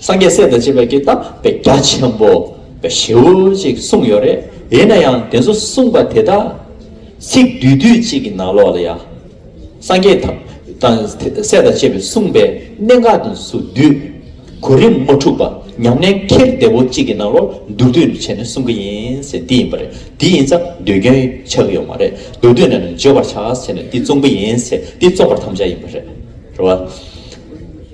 སངས་རྒྱས་སྲས་དང་བཅས་པའི་ཀྱེ་རྟག་པའི་རྒྱ་ཆེན་པོ། ཞེའུ་ཅིག་གསུངས་ཡོད་རེད་ཡིན་ན་ཡང་དེ་ཚོ་གསུངས་པ་དེ་དག་ཚིག་བསྡུས་བསྡུས་གཅིག་གི་ནང་ལོགས་ལ་ཡ། སངས་རྒྱས་དང་དང་སྲས་དང་བཅས་པའི་གསུངས་པའི་གནད་འགག་དུ་སུ་བསྡུས། གོ་རིམ་དམུ་ཕྲུག་པ་ཉམས་ལེན་འཁྱེར་བདེ་བོ་གཅིག་གི་ནང་ལོགས་མདོར་བསྡུས་ནས་བྱས་ནས་གསུངས་ཀྱི་ཡིན་ཟེར་འདི་ཡིན་པ་རེད་འདི་ཡིན་ཙང་ཟློས་སྐྱོན་ཆགས་ཀྱི་ཡོད་མ་རེད་མདོར་བསྡུས་ནས་ནི་བརྗོད་པར་བྱ་ཟེར་ནས་འདི་བཙོང་གི་ཡིན་ཟེར་འདི་བཙོང་པར་དམ་བཅའ་ཡིན་པ་རེད།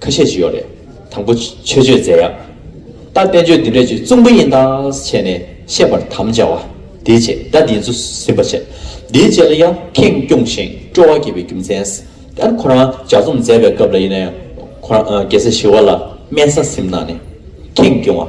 ཁ་ཤས་ཅི་ཡོད་རེད། དང་པོ་ཆོས་སྤྱོད་མཛད་ཡག། ད་བསྟན་བཅོས་འདི་འདྲས་ཆོས་གཙུག་འབུ་ཡིན་དྭགས་བྱས་ནས་བཤད་པར་དམ་བཅའ་བ། དེའི་ཆེད་ད་འདིའི་ཚུ་ཟིན་པ་བྱས། འདིའི་རྗེས་ལ་ཡང་ཁེངས་སྐྱུང་ཞིང་སྤྲོ་བ་བསྐྱེད་པའི་རྒྱུ་མཚན། དེར་ཁོ་རང་ལྗགས་རྩོམ་མཛད་པའི་སྐབས་ལ་ཡིན་ན་ཡང། ཁོ་རང་རྒྱལ་སྲས་ཞི་བ་ལ་སྨན་ས་སིམ་ན་ནས་ཁེངས་སྐྱུང་བ།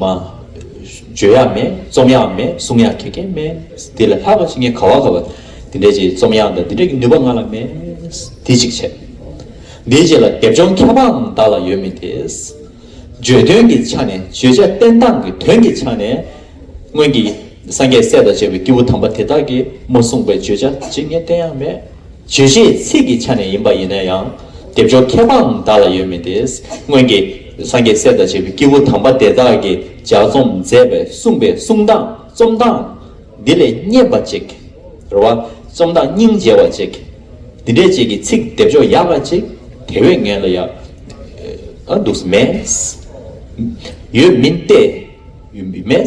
མ། བརྗོད་ཡག་མེད་རྩོམ་ཡག་མེད་གསུང་ཡག་ཁེ་ཁེ་མེད། དེ་ལས་ལྷག་པ་ཅི་ངས་ག་བ་ག་བ་དེ་འདྲས་ཀྱི་རྩོམ་ཡག་འདི་འདྲས་ཀྱི་ནུས་པ་ང་ལ་མེད། དེ་གཅིག་བྱས། དེའི་རྗེས་ལ་དེབ་སྦྱོང་ཁྱད་འཕགས་ནི་བདག་ལ་ཡོད་མི་དེ། བརྗོད་དོན་གྱི་ཆ་ནས་བརྗོད་བྱ་བསྟན་སྟངས་ཀྱི་དོན་གྱི་ཆ་ནས། སྔོན་གྱི་སངས་རྒྱས་སྲས་དང་བཅས་པའི་སྐྱེས་བུ་དམ་པ་དེ་དག་གིས་མ་གསུངས་པའི་བརྗོད་བྱ་ཅི་ངས་བསྟན་ཡག་མེད། བརྗོད་བྱའི་ཚིག་གི་ཆ་ནས་ཡིན་པ་ཡིན་ན་ཡང། སྡེབ་སྦྱོར་ཁྱད་པའང་བདག་ལ་ཡོད་མི་དེ། སྔོན་གྱི། སངས་རྒྱས་སྲས་དང་བཅས་པའི་སྐྱེས་བུ་དམ་པ་དེ་དག་གིས་ལྗགས་རྩོམ་མཛད་པའི་གསུངས་པའི་གསུང་དང་རྩོམ་སྟངས། འདི་ལས་རྙེད་པ་ཅིག། རེ་བ། རྩོམ་སྟངས་སྙིང་རྗེ་བ་ཅིག། འདི་འདྲས་ཅིག་གི་ཚིག་སྡེབ་སྦྱོར་ཡག་པ་ཅིག་དེ་བས་ངན་ལ་ཡག། འདུག། མེད། ཡོད། མིན། ཏེ། མེད།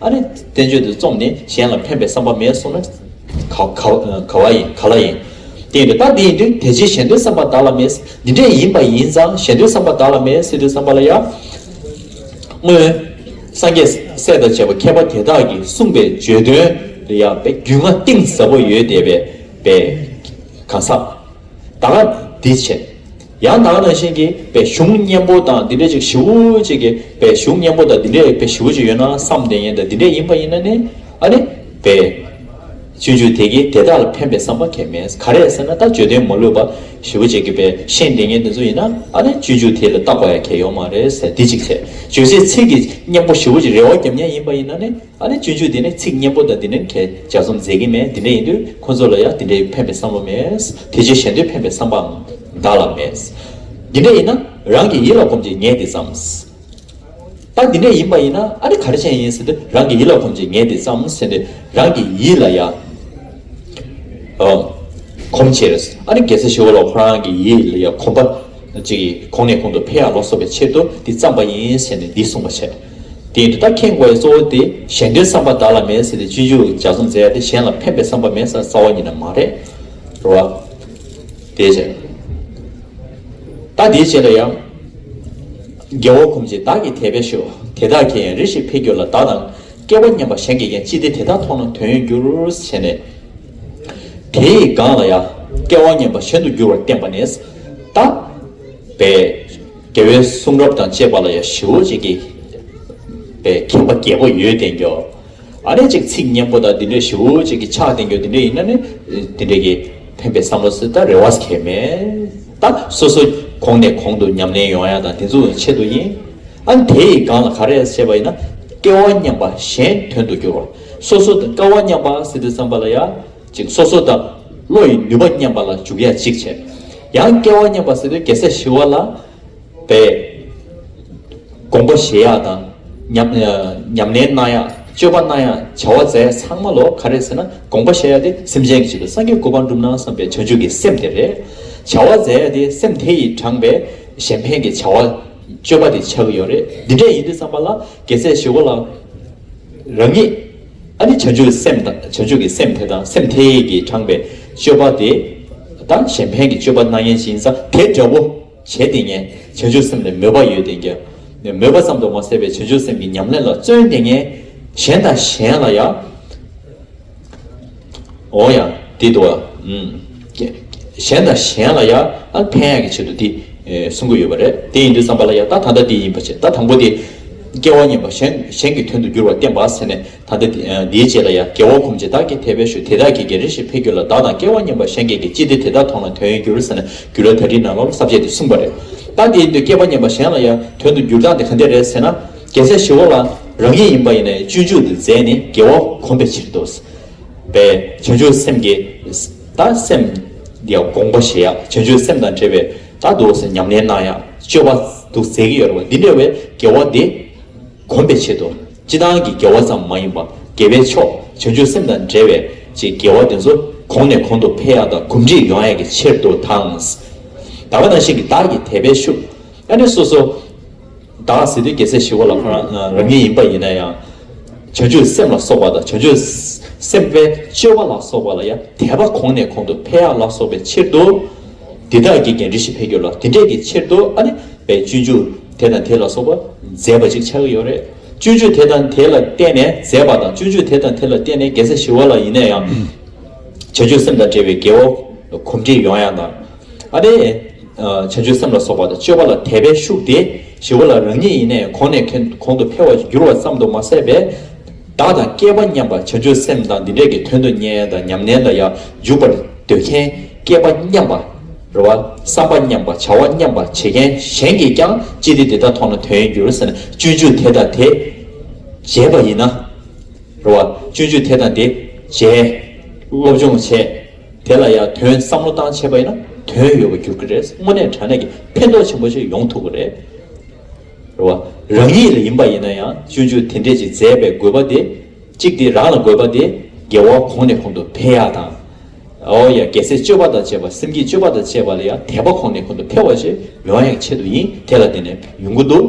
ཨ་རེ། བསྟན་བཅོས་འདི་རྩོམ་ནས་གཞན་ལ་ཕན་པའི་བསམ་པ་མེད་སོང་ན། ག་བ་ཡིན། ག་ལ་ཡིན། བསྟན་པའི་རྟགས་འདི་ཡིན་དུས་དེ་རྗེས་གཞན་དོན་བསམ་པ་བདག་ལ་མེད། འདི་འདྲས་ཡིན་པ་ཡིན་ཙང་གཞན་དོན་བསམ་པ་བདག་ལ་མེད་སྲིད་དུས་བསམ་པ་ལ་ཡང། སྔོན། སངས་རྒྱས་སྲས་དང་བཅས་པ་མཁས་པ་དེ་དག་གིས་གསུངས་པའི་བརྗོད་དོན་རེ་ཡང་བས་རྒྱུས་མངའ་གཏིང་ཟབ་པོ་ཡོད་དེ་བས། གང་ཟག། ད་འདི་བྱས། ཡང་དག་རང་བཞིན་གྱི་བའི་གཞུང་གཉེན་པོ་དང་འདི་འདྲ་ཅིག་བཞི་བོ་ཅིག་གི་བའི་གཞུང་གཉེན་པོ་དང་འདི་འདྲ་ཡི་བའི་བཞི་བོ་ཅིག་ཡོད་ན་བསམ་གཏན་ཡན་དང་འདི་འདྲ་ཡིན་པ་ཡིན་ན་ནི་ཨ་ནི་བའི་བཅུད་འཇུག་དེ་གིས་དེ་དག་ལ་ཕན་པའི་བསམ་པ་ཁས་མི་ག་རེ་ཟེར་ན་ད་བརྗོད་དོན་མ་ལུས་པ་བཞི་བོ་ཅིག་གི་བའི་བཤེས་གཏན་ཡན་དེ་ཚོ་ཡིན་ན་ཨ་ནི་བཅུད་འཇུག་དེ་ལ་བཏགས་པ་ཡང་ཁས་ཡོག་མ་རེད་ཟེར་དེ་ཅིག་བྱས་བརྗོད་བྱེད་ཚིག་གི་གཉེན་པོ་བཞི་བོ་ཅིག་རེ་བ་རྒྱབ་གཉེན་ཡིན་པ་ཡིན་ན་ནི་ཨ་ནི་སྤྱོད་འཇུག་འདི་ནི་ཚིག་སྙན་པོ་དང་འདི་འདྲའི་མཁས་བྱ་རྩོམ་མཛད་ཀྱིན་མེད་འདི་འདྲ་ཡིན་དུས་ཁོ་ཚོ་ལ་ཡང་འདི་འདྲའི་ཕན་པའི་བསམ་བློ་མེད། དེ་ཆོས་གཞན་དོན་ཕན་པའི་བསམ་པའང་བདག་ལ་མེད། འདི་འདྲ་ཡིན་ན་རང་གི་ཡིད་ལ་གོམས་ཀྱིས་ངས་འདི་བརྩམས། ད་འདི་འདྲ་ཡིན་པ་ཡིན་ན་ཨ་ནི་ག་རེ་བྱས་ཡིན་ཟེར་ཏེ་རང་གི་ཡིད་ལ་གོམས་ཀྱིས་ངས་འདི་བརྩམས་ཟེར་ནས་རང་གི་ཡིད་ལ་ཡང་གོམས་ཕྱིར་ཨ་ནི་རྒྱལ་སྲས་ཞི་བ་ལ་ཁོ་རང་གི་ཡིད་ལ་ཡང་གོམས་པ་གཅིག་གིས་གོང་ནས་གོང་དུ་འཕེལ་ཡང་ལོ་གསོག་པའི་ཕྱིར་དུ་འདི་བརྩམས་པ་ཡིན་ཟེར་ནས་འདི་གསུངས་པ་བྱས། དེས་འདི་དག་མཁྱེན་དགོས་པའི་གཙོ་བོ་དེ་གཞན་འདྲའི་བསམ་པ་བདག་ལ་མེད་ཟེར་ཏེ་སྤྱི་འཇུག་འཇའ་ཚོན་མཛད་དེ་གཞན་ལ་ཕན་པའི་བསམ་པ་མེད་ས་རྩ་བ་ཉིད་ན་མ་རེད། རེད་བ། དེའི་ཕྱིར། ད་དེའི་རྗེས་ལ་ཡང། རྒྱལ་བོ་ཁོང་ཅིག་བདག་གིས་དད་པས་ཞུ། དེ་དག་གིས་ཡང་རེ་ཞིག་ཕེབས་གྱུར་ལ་བདག་དང། སྐལ་བ་མཉམ་པ་གཞན་དགེ་རྒན་ཅི་སྟེ་དེ་དག་མཐོང་ན་དོན་ཡོད་འགྱུར། བྱས་ནས། དེའི་སྒང་ལ་ཡང། སྐལ་བ་མཉམ་པ་གཞན་དུ་འགྱུར་བར་བསྟན་པ་ནས། བདག། པའི། རྒྱལ་བའི་གསུང་རབ་དང་བཅས་པ་ལ་ཡང་ཞི་བོ་ཅིག་གིས་པའི་མཁྱེན་པ་བརྒྱད་པོ་ཡོད་བསྟན་ཀྱོ། ཨ་ནི་ཅིག་ཚིག་སྙན་པོ་དག་འདི་འདྲའི་ཞི་བོ་ཅིག་གིས་ཕྱག་བསྟན་ཀྱོ་འདི་འདྲའི་ཡིན་ན་ནི་འདི་འདྲའི་གིས་ཕན་པའི་བསམ་བློ་སྲིད་ད་རེ་བས་ཁྱད་མེད་ད་སོ་སོ་གོང་ནས་གོང་དུ་ཉམས་ལེན་ཡོང་ཡ་དང་དེ་ཚོ་ཡང་ཆེད་དུ་ཡིན། ཨ་ནི་དེ་ཡི་སྒང་ལ་ག་རེ་བྱས་པ་ཡིན་ན་སྐལ་བ་མཉམ་པ་གཞན་དོན་དུ་གྱུར་བ་སོ་སོ་དང་སྐལ་བ་མཉམ་པ་སྲིད་དུ་བསམ་པ་ལ་ཡང། ཅིག་སོ་སོ་དང། བློ་ཡི་ནུས་པ་མཉམ་པ་ལ་འཇུག་ཡ་ཅིག་བྱས། ཡང་སྐལ་བ་མཉམ་པ་ཟེར་ཏེ་རྒྱལ་སྲས་ཞི་བ་ལ་འབད། དགོངས་པ་བཞེས་ཡག་དང། ཉམས་ལེན་གནང་ཡག་སྤྱོད་པ་གནང་ཡག་བྱ་བ་མཛད་ཚང་མ་ལོ་ག་རེ་ཟེར་ན་དགོངས་པ་བཞེས་ཡག་དེ་སེམས་ཅན་གྱི་ཆེད་དུ་སངས་རྒྱས་སྐུ་པར་འགྲུབ་ན་བསམ་པའི་བྱང་ཆུབ་ཀྱི་སེམས་དེ་རེད། བྱ་བ་མཛད་ཡག་དེ་སེམས་དེ་ཡིས་དྲངས་པའི་གཞན་ཕན་གྱི་བྱ་བ་སྤྱོད་པ་དེ་ཆགས་ཀྱི་ཡོད་རེད་འདི་འདྲས་ཡིན་དུས་བསམ་པ་ལ་རྒྱལ་སྲས་ཞི་བ་ལ་རང་ཉིད། ཨ་ནི་བྱ་སྤྱོད་སེམས་དང་བྱ་སྤྱོད་ཀྱི་སེམས་དེ་དང་སེམས་དེ་ཀྱིས་དྲངས་པའི་སྤྱོད་པ་དེ་དང་གཞན་ཕན་གྱི་སྤྱོད་པ་སྣང་བརྙན་ཅིང་ས་དེ་འདྲ་བོ་བྱས་ཏེ་ངས་བྱ་སྤྱོད་སེམས་ལས་མོས་པ་ཡོད་དེ་ཀྱང་མོས་པ་ཙམ་དུ་མ་ཟད་པའི་བྱ་སྤྱོད་སེམས་ཀྱི་ཉམས་ལེན་ལ་བརྩོན་ཏེ་ངས་གཞན་དང་གཞན་ལ་ཡང། འོང་ཡང་འདི་འདུག་གཞན་དང་གཞན་ལ་ཡང་ཕན་ཡག་གི་ཆེད་དུ་འདི་གསུང་གི་ཡོད་པ་རེད་དེ་ཡིན་དུས་བསམ་པ་ལ་ཡང་ད་ད་ལྟ་འདི་ཡིན་པ་བྱེད་ད་དང་པོ་དེ་སྐྱེ་བ་གཉིས་པ་གཞན་གཞན་གྱི་དོན་དུ་འགྱུར་བ་བསྟན་པ་ཟེར་ནས་ད་ལྟ་འདིའི་རྗེས་ལ་ཡང་དགེ་བ་ཁོམ་བྱེད་དག་གི་དད་པའི་ཤུགས་དེ་དག་གིས་གེ་རེ་ཞིག་འཕེལ་རྒྱུ་ལ་བདག་དང་སྐལ་བ་གཉིས་པ་གཞན་གྱི་གེ་ཅི་སྟེ་དེ་དག་ཐོག་ན་དོན་ཡོད་འགྱུར་ཟེར་ན་འགྱུར་ལ་ད་དྲིས་ན་ལོ་ལ་གསར་བཅད་དེ་གསུངས་པ་རེད་ད་དེ་ཡིན་དུས་སྐྱེ་བ་གཉིས་པ་གཞན་ལ་ཡང་དོན་དུ་འགྱུར་སྟངས་དེ་ག་འདྲས་རེད་ཟེར་ན་རྒྱལ་སྲས་ཞི་བ་ལ་རང་ཉིད་ཡིན་པ་ཡིན་ནས་སྤྱོད་འཇུག་དེ་མཛད་ནས་དགེ་བ་ཁོམ་པའི་ཕྱིར་དུ། པའི་བྱང་ཆུབ་སེམས་ཀྱི། ད་སེམས། ཀྱི་དགོངས་པ་བཞེས། བྱང་ཆུབ་སེམས་དང་བྲལ་བའི། ད་སྡུག་བསལ་ཉམས་ལེན་གནང། སྤྱོད་པ། དུ་ཟད་ཀྱི་ཡོད་རེ་བ། འདི་འདྲ་བའི་དགེ་བ་འདི། གོམས་པའི་ཆེད་དུ། སྤྱི་བཏང་གི་དགེ་བ་ཙམ་མ་ཡིན་པ། དགེ་བའི་ཕྱོགས། བྱང་ཆུབ་སེམས་དང་བྲལ་བའི། ཅེས་དགེ་བ་དེ་ཚོ། གོང་ནས་གོང་དུ་འཕེལ་ཡག་དང་གོམས་འདྲིས་ཡོང་ཡག་གི་ཕྱིར་དུ་དང། བདག་ལ་ནང་བཞིན་གྱི་བདག་གི་དད་པའི་ཤུགས། ཨ་ནི་སོ་སོ། བདག་ཟེར་དུས་རྒྱལ་སྲས་ཞི་བ་ལ་ཁོ་རང་རང་ཉིད་ཡིན་པ་ཡིན་ན་ཡང། བྱང་ཆུབ་སེམས་ལ་སོགས་པ་དང་བྱང་ཆུབ་སེམས་དཔའི་སྤྱོད་པ་ལ་སོགས་པ་ལ་ཡང་དད་པ་གོང་ནས་གོང་དུ་འཕེལ་ཡག་ལ་སོགས་པའི་ཕྱིར་དུ། འདི་དག་གིས་ཀྱང་རིགས་བཞི་འཕེལ་འགྱུར་ལ་དེ་འབྲས་ཀྱི་ཕྱིར་དུ་ཨ་ནི་བའི་སྤྱོད་འཇུག་དེ་དང་དེ་ལ་སོགས་པ་མཛད་པ་ཅིག་ཆགས་ཀྱི་ཡོད་རེད། སྤྱོད་འཇུག་དེ་དང་དེ་ལ་བརྟེན་ནས་མཛད་པ་དང་སྤྱོད་འཇུག་དེ་དང་དེ་ལ་བརྟེན་ནས་རྒྱལ་སྲས་ཞི་བ་ལ་ཡིན་ན་ཡང། བྱང་ཆུབ་སེམས་དང་འབྲེལ་བའི་དགེ་བ་གོམས་འདྲིས་ཡོང་ཡང་དང། ཨ་ཏི། བྱ་སྤྱོད་སེམས་ལ་སོགས་པ་དང་སྤྱོད་པ་ལ་དད་པའི་ཤུགས་དེ་ཞི་བ་ལ་རང་ཉིད་ཡེ་ནས་གོང་ནས་གོང་དུ་འཕེལ་བར་འགྱུར་བ་ཙམ་དུ་མ་ཟད་པས། བདག་དང་སྐལ་པ་མཉམ་པར་བྱ་སྤྱོད་སེམས་དང་འདི་འདྲས་ཀྱི་དོན་དུ་གཉེན་དང་ཉམས་ལེན་ལ་ཡང་འཇུག་པར་འདོད་མཁན་སྐལ་པ་མཉམ་པ། རེ་བ། བསམ་པ་མཉམ་པ་བྱ་བ་མཉམ་པ་བྱེད་མཁན་གཞན་གྱིས་ཀྱང་ཅི་སྟེ་འདི་དག་མཐོང་ན་དོན་ཡིན་འགྱུར་ཟེར་ན་སྤྱོད་འཇུག་དེ་དང་དེ་འཇལ་བ་ཡིན་ན། རེ་བ། སྤྱོད་འཇུག་དེ་དང་དེ་འཇལ། སློབ་སྦྱོང་བྱས། དེ་ལ་ཡང་དོན་བསམ་བློ་བཏང་ཆེས་པ་ཡིན་ན་དོན་ཡོད་པར་འགྱུར་གྱི་རེད་དངོས་གནས་དྲ་གནས་ཀྱི་ཕན་ཐོགས་ཆེན་པོ་ཞིག་ཡོང་ཐུབ་པ་རེད། རེད་བ། རང་ཉིད་ལ་ཡིན་པ་ཡིན་ན་ཡང་སྤྱོད་འཇུག་དེ་འདྲས་ཀྱི་མཛད་པའི་དགོས་པ་དེ་གཅིག་དེ་རང་ལ་དགོས་པ་དེ་རྒྱལ་བ་གོང་ནས་གོང་དུ་འཕེལ་ཡག་དང། ཨོ་ཡ་རྒྱལ་སྲས་སྤྱོད་པ་དང་བཅས་པ་སེམས་ཀྱི་སྤྱོད་པ་དང་བཅས་པ་ལ་ཡང་དད་པ་གོང་ནས་གོང་དུ་འཕེལ་བ་ཞིག་ཡོང་ཡག་ཆེད་དུ་ཡིན་དེ་ལ་དེ་ནས་ཡོང་གི་འདུག་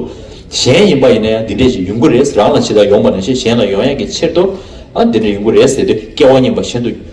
གཞན་ཡིན་པ་ཡིན་ན་ཡང་འདི་འདྲས་ཀྱི་ཡོང་གི་རེད་རང་ལ་ཇི་ལྟར་ཡོང་པ་ནང་བཞིན་གཞན་ལ་ཡོང་ཡག་གི་ཕྱིར་དུའང་འདི་འདྲས་ཡོང་གི་རེད་ཟེར་དུས་སྐལ་བ་རྙེད་པ་བཞིན་དུ།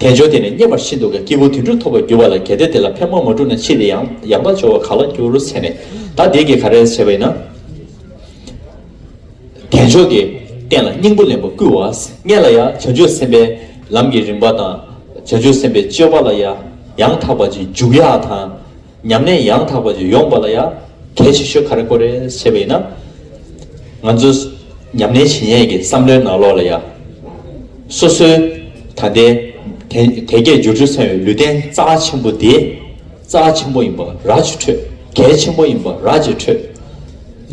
དལ་འབྱོར་དེ་ནི་རྙེད་པར་ཤིན་ཏུ་དཀའི་སྐྱེས་བུ་དུད་འགྲོ་ཐོབ་པར་འགྱུར་བ་ལ་གལ་ཏེ་དེ་ལ་ཕན་མ་མ་བསྒྲུབས་ན་ཕྱིས་དེ་ཡང་ཡང་དག་འབྱོར་བར་ག་ལ་འགྱུར་ཟེར་ནས་བདག་བདེ་སྐྱིད་ག་རེ་བྱས་པ་ཡིན་ན། དལ་འབྱོར་གྱི་རྟེན་ལ་སྙིང་པོ་ལེན་པར་བསྐུལ་བ་ལྔས་ལ་ཡང་བྱང་ཆུབ་སེམས་དཔའི་ལམ་གྱི་རིམ་པ་དང། བྱང་ཆུབ་སེམས་དཔའི་སྤྱོད་པ་ལ་ཡང་ཡང་དག་པ་ཅིག་འཇུག་ཡ་དང། ཉམས་ལེན་ཡང་དག་པ་ཡོང་བ་ལ་ཡང་གལ་ཆེ་ཤོས་ག་རེ་ཀོ་རེད་ཟེར་བས་ན། ང་ཚོ་ཉམས་ལེན་བྱེད་མཁན་གྱི་བསམ་བློའི་ནང་ལོགས་ལ་ཡང། སོ་སོའི་ད་ལྟའི་དལ་བརྒྱད་སྦྱོར་དྲུག་ཚང་བའི་ལུས་རྟེན་རྩ་བ་ཆེན་པོ་དེ། རྩ་བ་ཆེན་པོ་ཡིན་པ་ར་གཅིག་འཕྲོད་གལ་ཆེན་པོ་ཡིན་པ་ར་གཅིག་འཕྲོད།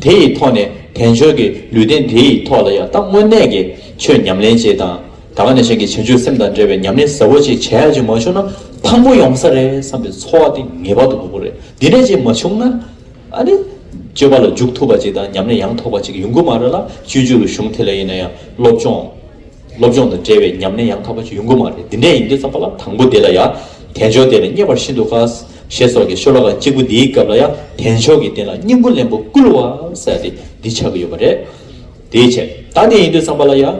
དེ་ཡི་ཐོག་ནས་དལ་འབྱོར་གྱི་ལུས་རྟེན་དེ་ཡི་ཐོག་ལ་ཡང་ད་དངོས་གནས་ཀྱི་ཆོས་ཉམས་ལེན་བྱེད་དང། ད་ག་ནས་གཞན་གྱི་བྱམས་ཆོས་སེམས་དང་འབྲེལ་བའི་ཉམས་ལེན་ཟབ་བོ་ཅིག་བྱས་རྗེས་མ་བྱུང་ན་ཕངས་པོ་ཡོང་ས་རེད་བསམ་པའི་ཚོར་བ་དེ་ངེས་པར་དུ་འགོག་དགོས་རེད་དེ་ནས་རྗེས་མ་བྱུང་ན་ཨ་ནི། སྤྱོད་པ་ལ་འཇུག་ཐུབ་པ་ཅིག་དང་ཉམས་ལེན་ཡང་ཐོགས་པ་ཅིག་ཡོང་གི་མ་རེད་ལ་སྤྱོད་རྒྱུ་རུ་གཞུང་དེ་ལ་ཡིན་ན་ཡང་སློབ་སྦྱོང། སློབ་སྦྱོང་དང་འབྲེལ་བའི་ཉམས་ལེན་ཡང་ཐོགས་པ་ཅིག་ཡོང་གི་མ་རེད་དེ་འདྲས་ཡིན་དུས་བསམ་པ་ལ་དང་པོ་དེ་ལ་ཡང་དལ་འབྱོར་དེ་ལ་བསྙད་པར་ཤིན་ཏུ་དཀའ། ཞེས་སོགས་ཀྱི་ཤོ་ལོ་ཀ་གཅིག་པོ་འདིའི་སྐབས་ལ་ཡང་དལ་མཆོག་གི་རྟེན་ལ་སྙིང་པོ་ལན་པོ་བསྐུལ་བ་ཟེར་ཏེ་འདི་ཆགས་ཀྱི་ཡོད་པ་རེད། དེའི་ཕྱིར་ད་དེ་ཡིན་དུས་བསམ་པ་ལ་ཡང།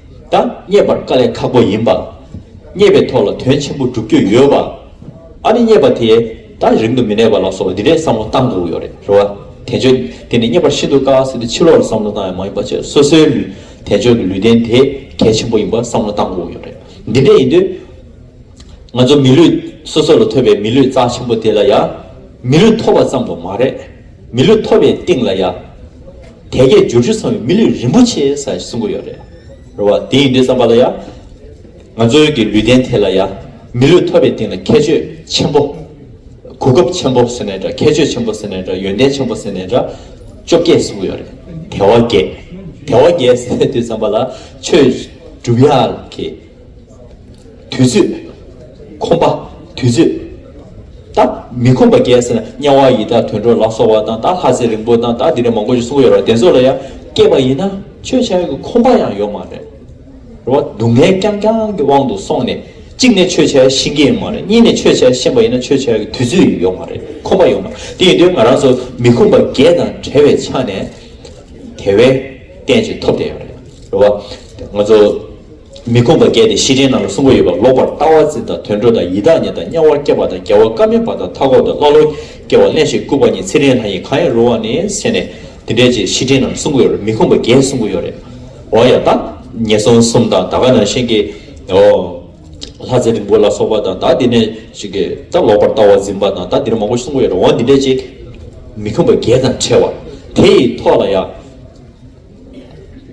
ད་རྙེད་པར་དཀའ་ལས་ཁག་པོ་ཡིན་པ། རྙེད་པའི་ཐོག་ལ་དོན་ཆེན་པོ་བསྒྲུབ་རྒྱུ་ཡོད་པ། ཨ་རི་རྙེད་པ་དེ་ད་རིང་དུ་མི་གནས་པ་ལ་སོགས་པ་འདི་འདྲའི་བསམ་བློ་བཏང་འདུག་ཡོད་རེད་རེད་བ། དེ་ཆོས་དེ་ནི་རྙེད་པར་ཤིན་ཏུ་དཀའ་བ་སྲིད་དེ་ཕྱི་ལོགས་ལ་བསམ་བློ་བཏང་ཡང་མ་ཡིན་པ་བཅས་སོ་སོའི་ལུས་དེ་ཆོས་ཀྱི་ལུས་རྟེན་དེ་གལ་ཆེན་པོ་ཡིན་པ་བསམ་བློ་བཏང་འདུག་ཡོད་རེད། འདི་འདྲས་ཡིན་དུས། ང་ཚོ་མི་ལུས་སོ་སོ་ལ་ཐོབ་པའི་མི་ལུས་རྩ་ཆེན་པོ་དེ་ལ་ཡང་མི་ལུས་ཐོབ་པ་ཙམ་དུ་མ་རེད། མི་ལུས་ཐོབ་པའི་སྟེང་ལ་ཡང། དལ་བརྒྱད་འབྱོར་བཅུ་ཚང་བའི་མི་ལུས་རིན་པོ་ཆེ་ས་ཞེས་གསུང་གི་ཡོད་རེད། རེད་བ། དེ་ཡིན་དུས་བསམ་པ་ལ་ཡང། ང་ཚོའི་གི་ལུས་རྟེན་དེ་ལ་ཡང། མི་ལུས་ཐོབ་པའི་སྟེང་ལ་ཁྱད་ཆོས་ཆེན་པོ། གོ་སྐབས་ཆེན་པོ་ཟེར་ནས་འདྲ་ཁྱད་ཆོས་ཆེན་པོ་ཟེར་ནས་འདྲ་ཡོན་ཏན་ཆེན་པོ་ཟེར་ནས་འདྲ། བཅོ་བརྒྱད་གསུང་གི་ཡོད་རེད། དལ་བ་བརྒྱད། དལ་བ་བརྒྱད་ཟེར་དུས་བསམ་པ་ལ། ཆོས་སྒྲུབ་ཡག་གི། དུས་ཚོད། ཁོམ་པ། དུས་ཚོད། ད། མི་ཁོམ་པ་རྒྱལ་སྲས་དམྱལ་བ་ཡི་དྭགས་དུད་འགྲོ་ལ་སོགས་བ་དང་ད་ལྷ་ཚེ་རིང་པོ་དང་ད་དེ་འདྲ་མང་པོ་ཞིག་གསུང་གི་ཡོད་རེད་བདེན་ཚོགས་ལ་ཡང་སྐྱེས་པ་ཡིན་ན་ཆོས་བྱ་ཡུལ་གྱི་ཁོམ་པ་ཡང་ཡོད་མ་རེད། རེད་བ། སྡུག་བསྔལ་རྐྱང་རྐྱང་གི་དབང་དུ་སོང་ནས་གཅིག་ནས་ཆོས་བྱ་ཡུལ་ཤི་གི་ཡོད་མ་རེད་གཉིས་ནས་ཆོས་བྱ་ཡུལ་ཤེས་པ་ཡིན་ན་ཆོས་བྱ་ཡུལ་གྱི་དུས་ཚོད་ཡོད་མ་རེད་ཁོམ་པ་ཡོད་མ་རེད་དེ་ཡིན་དུས་ང་རང་ཚོ་མི་ཁོམ་པ་བརྒྱད་དང་བྲལ་བའི་ཆ་ནས་དེ་བས་བརྟན་ཅིང་ཐོབ་བསྟན་ཡོད་རེད། རེད་བ། ང་ཚོ། མི་ཁོམ་པ་བརྒྱད་དེ་ཤེས་བྱའི་ནང་ལ་གསུམ་པོ་ཡོད་པ་ལོག་པར་ལྟ་བ་འཛིན་དང་དུད་འགྲོ་དང་ཡི་དྭགས་ཉིད་དང་དམྱལ་བར་སྐྱེ་བ་དང་རྒྱལ་བ་སྐལ་དམན་པ་དང་མཐའ་འཁོབ་དང་ཀླ་ཀློ་སྐྱེ་བ་གླེན་ཞིང་ལྐུགས་པ་ཉིད་ཚེ་རིང་ལྷ་ཡིན་གང་ཡང་རུང་བ་ནི་ཟེར་ནས་འདི་འདྲའི་ཕྱིར་ཤེས་བྱའི་ནང་ལ་གསུམ་པོ་ཡོད་རེད་མི་ཁོམ་པ་བརྒྱད་གསུམ་པོ་ཡོད་རེད་འོ་ཡ་ད། ངན་སོང་གསུམ་དང་ད་ག་ནང་བཞིན་གྱི་འོ། ལྷ་ཚེ་རིང་པོ་ལ་སོགས་པ་དང་ད་འདི་འདྲའི་ཕྱིར་གྱི་ད་ལོག་པར་ལྟ་བ་འཛིན་པ་དང་ད་འདི་འདྲ་མང་པོ་གསུམ་པོ་ཡོད་རེད་འོ་འདི་འདྲའི་ཕྱིར། མི་ཁོམ་པ་བརྒྱད་དང་བྲལ་བ་དེ་ཡི་ཐོག་ལ་ཡང།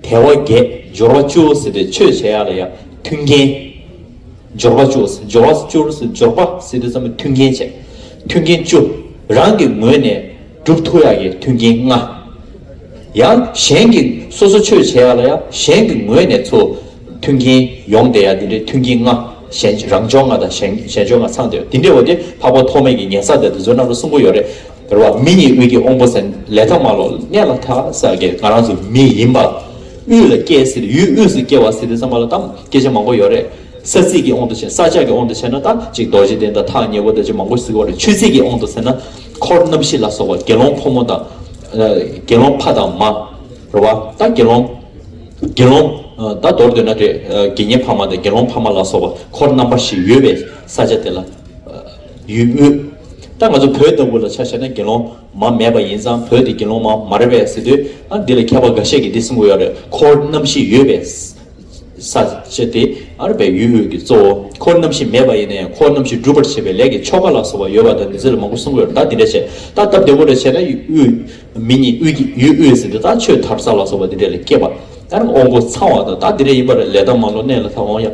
དལ་བ་བརྒྱད། སྦྱོར་བ་བཅུ་བོ་ཟེར་བའི་ཆོས་བྱེད་ཡ་ལ་ཡ། མཐུན་རྐྱེན། སྦྱོར་བ་བཅུ་བོ། སྦྱོར་བ་བཅུ་བོ། སྦྱོར་བ་ཟེར་དུས་ཙམ་པོ་མཐུན་རྐྱེན་བྱེད། མཐུན་རྐྱེན་བཅུ། རང་གི་ངོས་ནས། གྲུབ་ཐུག་ཡ་གི་མཐུན་རྐྱེན་ལྔ། ཡང། གཞན་གྱི། སོ་སོ་ཆོས་བྱེད་ཡ་ལ་ཡ། གཞན་གྱི་ངོས་ནས་ཚུ། མཐུན་རྐྱེན། ཡོངས་དེ་ཡ་འདི་འདྲའི་མཐུན་རྐྱེན་ལྔ། གཞན། རང་སྦྱོར་ལྔ་དང། གཞན་སྦྱོར་ལྔ་ཚང་དེ་ཡོད། འདི་འདྲའི་བ་དེ། འཕགས་པ་ཐོགས་མེད་ཀྱི་ཉན་ས་དེ་དུ་ཚོད་རྣམ་རོལ་གསུམ་པོ་ཡོད་རེད། དོར་བ་མི་གཉིས་དབུས་ཀྱི་དབང་པོ་ཟེར་ནས་ལས་ཐོག་མ་ལོག་གནས་ལ་ཐ་ས་དགེ་ང་རང་ཚོ་མི་ཡིན་པ་དབུས་ལ་སྐྱེས་ཟེར་ཡུལ་དབུས་སུ་སྐྱེ་བ་ཟེར་དུས་ཚང་མ་ལ་གཏམ་སྐད་ཆ་མང་པོ་ཡོད་རེད་ས་ཚིགས་ཀྱི་དབང་དུ་བྱས་ས་ཆ་གི་དབང་དུ་བྱས་ན་ད་ཅིག་རྡོ་རྗེ་གདན་དང་ཐག་ཉེ་བོ་ད་ཅིག་མང་པོ་ཟིག་བ་རེད་ཆོས་ཚིགས་ཀྱི་དབང་དུ་ཟེར་ན་འཁོར་རྣམ་བཞི་ལ་སོགས་པ་དགེ་སློང་ཕོ་མོ་དང། དགེ་སློང་ཕ་དང་མ། རེད་བ་ད་དགེ་སློང། དགེ་སློང། ད་མདོར་བསྡོད་ན་རེད་དགེ་བསྙེན་ཕ་མ་དང་དགེ་སློང་ཕ་མ་ལ་སོགས་པ་འཁོར་རྣམ་པ་བཞི་ཡོད་པའི་ས་ཆ་དེ་ལ། ཡུལ་དབུས། ད་ང་ཚོ་བོད་ལྟ་བུ་ལ་ཆ་བཤད་ན་དགེ་སློང་མ་མེད་པ་ཡིན་ཙང་བོད་དེ་དགེ་སློང་མ་མ་རེད་པས་ཟེར་དུས་ཨ་འདི་ལ་མཁས་པ་འགའ་ཤས་ཀྱིས་འདི་སེམས་གོ་ཡོད་རེད་ཁོར་རྣམ་བཞི་ཡོད་པས་ས་ཆ་དེ་ཨ་རེད་པས་ཡུལ་དབུས་ཀྱི་གཙོ་བོ་ཁོར་རྣམ་བཞི་མེད་པ་ཡིན་ནའི་ཁོར་རྣམ་བཞི་སྒྲུབ་པར་བྱེད་པའི་ལས་ཀྱི་ཆོ་ག་ལ་སོགས་པ་ཡོད་པ་དང་འདི་ཚོ་ལ་མང་པོ་གསུང་གི་ཡོད་རེད་ད་འདི་འདྲ་བྱས་ད་སྟབས་བདེ་བོ་རེ་བྱས་ན་ཡུལ་དབུས་མི་གཉིས་དབུས་ཀྱི་ཡུལ་དབུས་ཟེར་དུས་ད་ཆོས་ཐབ་ས་ལ་སོགས་པ་འདི་འདྲ་ལས་སྐྱེས་པ་ཨ་རེད་འོང་སྒོ་ཚང་བ་དང་ད་འདི་འདྲ་ཡིན་པ་རེད་ལས་ད་མང་ལོ་གནས་ལ་ད་འོང་ཡག།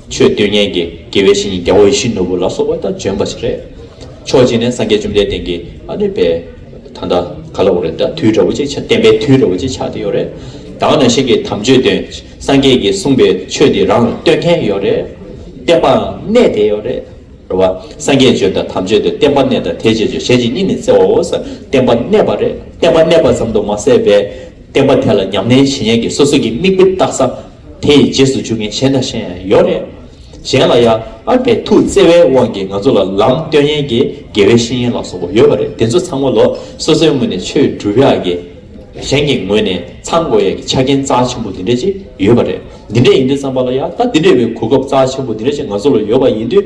ཆོས་སྡུད་མཁན་གྱི་དགེ་བའི་བཤེས་གཉེན་རྒྱལ་བ་ཡེ་ཤེས་ནོར་བུ་ལ་སོགས་པ་དང་ལྗོན་པ་ཞིག་རེད། ཕྱོགས་གཅིག་ནས་སངས་རྒྱས་བཅོམ་ལྡན་འདས་ཀྱི་ཨ་ནུས་པའི་ད་ལྟ་ག་ལ་བོར་རེད་ད་དུས་དྲ་བོ་ཅིག་ཆགས་བསྟན་པའི་དུས་དྲ་བོ་ཅིག་ཆགས་ཏེ་ཡོད་རེད། དྭངས་ན་ཤིང་གི་དམ་ཆོས་སྟོན། སངས་རྒྱས་ཀྱིས་གསུངས་པའི་ཆོས་འདི་རང་ལ་སྟོན་མཁན་ཡོད་རེད། བསྟན་པའང་གནས་དེ་ཡོད་རེད། རེད་བ། སངས་རྒྱས་ཆོས་དང་དམ་ཆོས་དེ་བསྟན་པ་གནས་དང་དེ་རྗེས་ཆོས་གཞན་ཅིག་གཉིས་ནི་བཙལ་བའོ་ས་བསྟན་པ་གནས་པ་རེད་བསྟན་པ་གནས་པ་ཙམ་དུ་མ་ཟད་པས། བསྟན་པ་དེ་ལ་ཉམས་ལེན་བྱེད་མཁན་གྱི་སོ་སོ་གྱི་དམིགས་དཔེ་བཏགས་ས་དེ་ཡི་རྗེས་སུ་འཇུག་མཁན་གཞན་དང་གཞན་ཡང་ཡོད་རེད། གཞན་ལ་ཡང་ཨ་པའི་ཐུགས་བརྩེ་བའི་དབང་གིས་ང་ཚོ་ལ་ལམ་སྟོན་ཡན་གྱི་དགེ་བའི་བཤེས་གཉེན་ལ་སོགས་པ་ཡོད་པ་རེད་དེ་ཚོ་ཚང་མ་ལོ་སོ་སོའི་ངོས་ནས་ཆོས་སྒྲུབ་ཡག་གི། གཞན་གྱི་ངོས་ནས་ཚང་དགོས་ཡག་གི་ཆ་རྐྱེན་རྩ་ཆེན་པོ་དེ་འདྲ་ཅིག་ཡོད་པ་རེད། འདི་འདྲ་ཡིན་དུས་བསམ་པ་ལ་ཡང་ད་འདི་འདྲ་བའི་གོ་སྐབས་རྩ་ཆེན་པོ་འདི་འདྲ་ཅིག་ང་ཚོ་ལ་ཡོད་པ་ཡིན་དུས།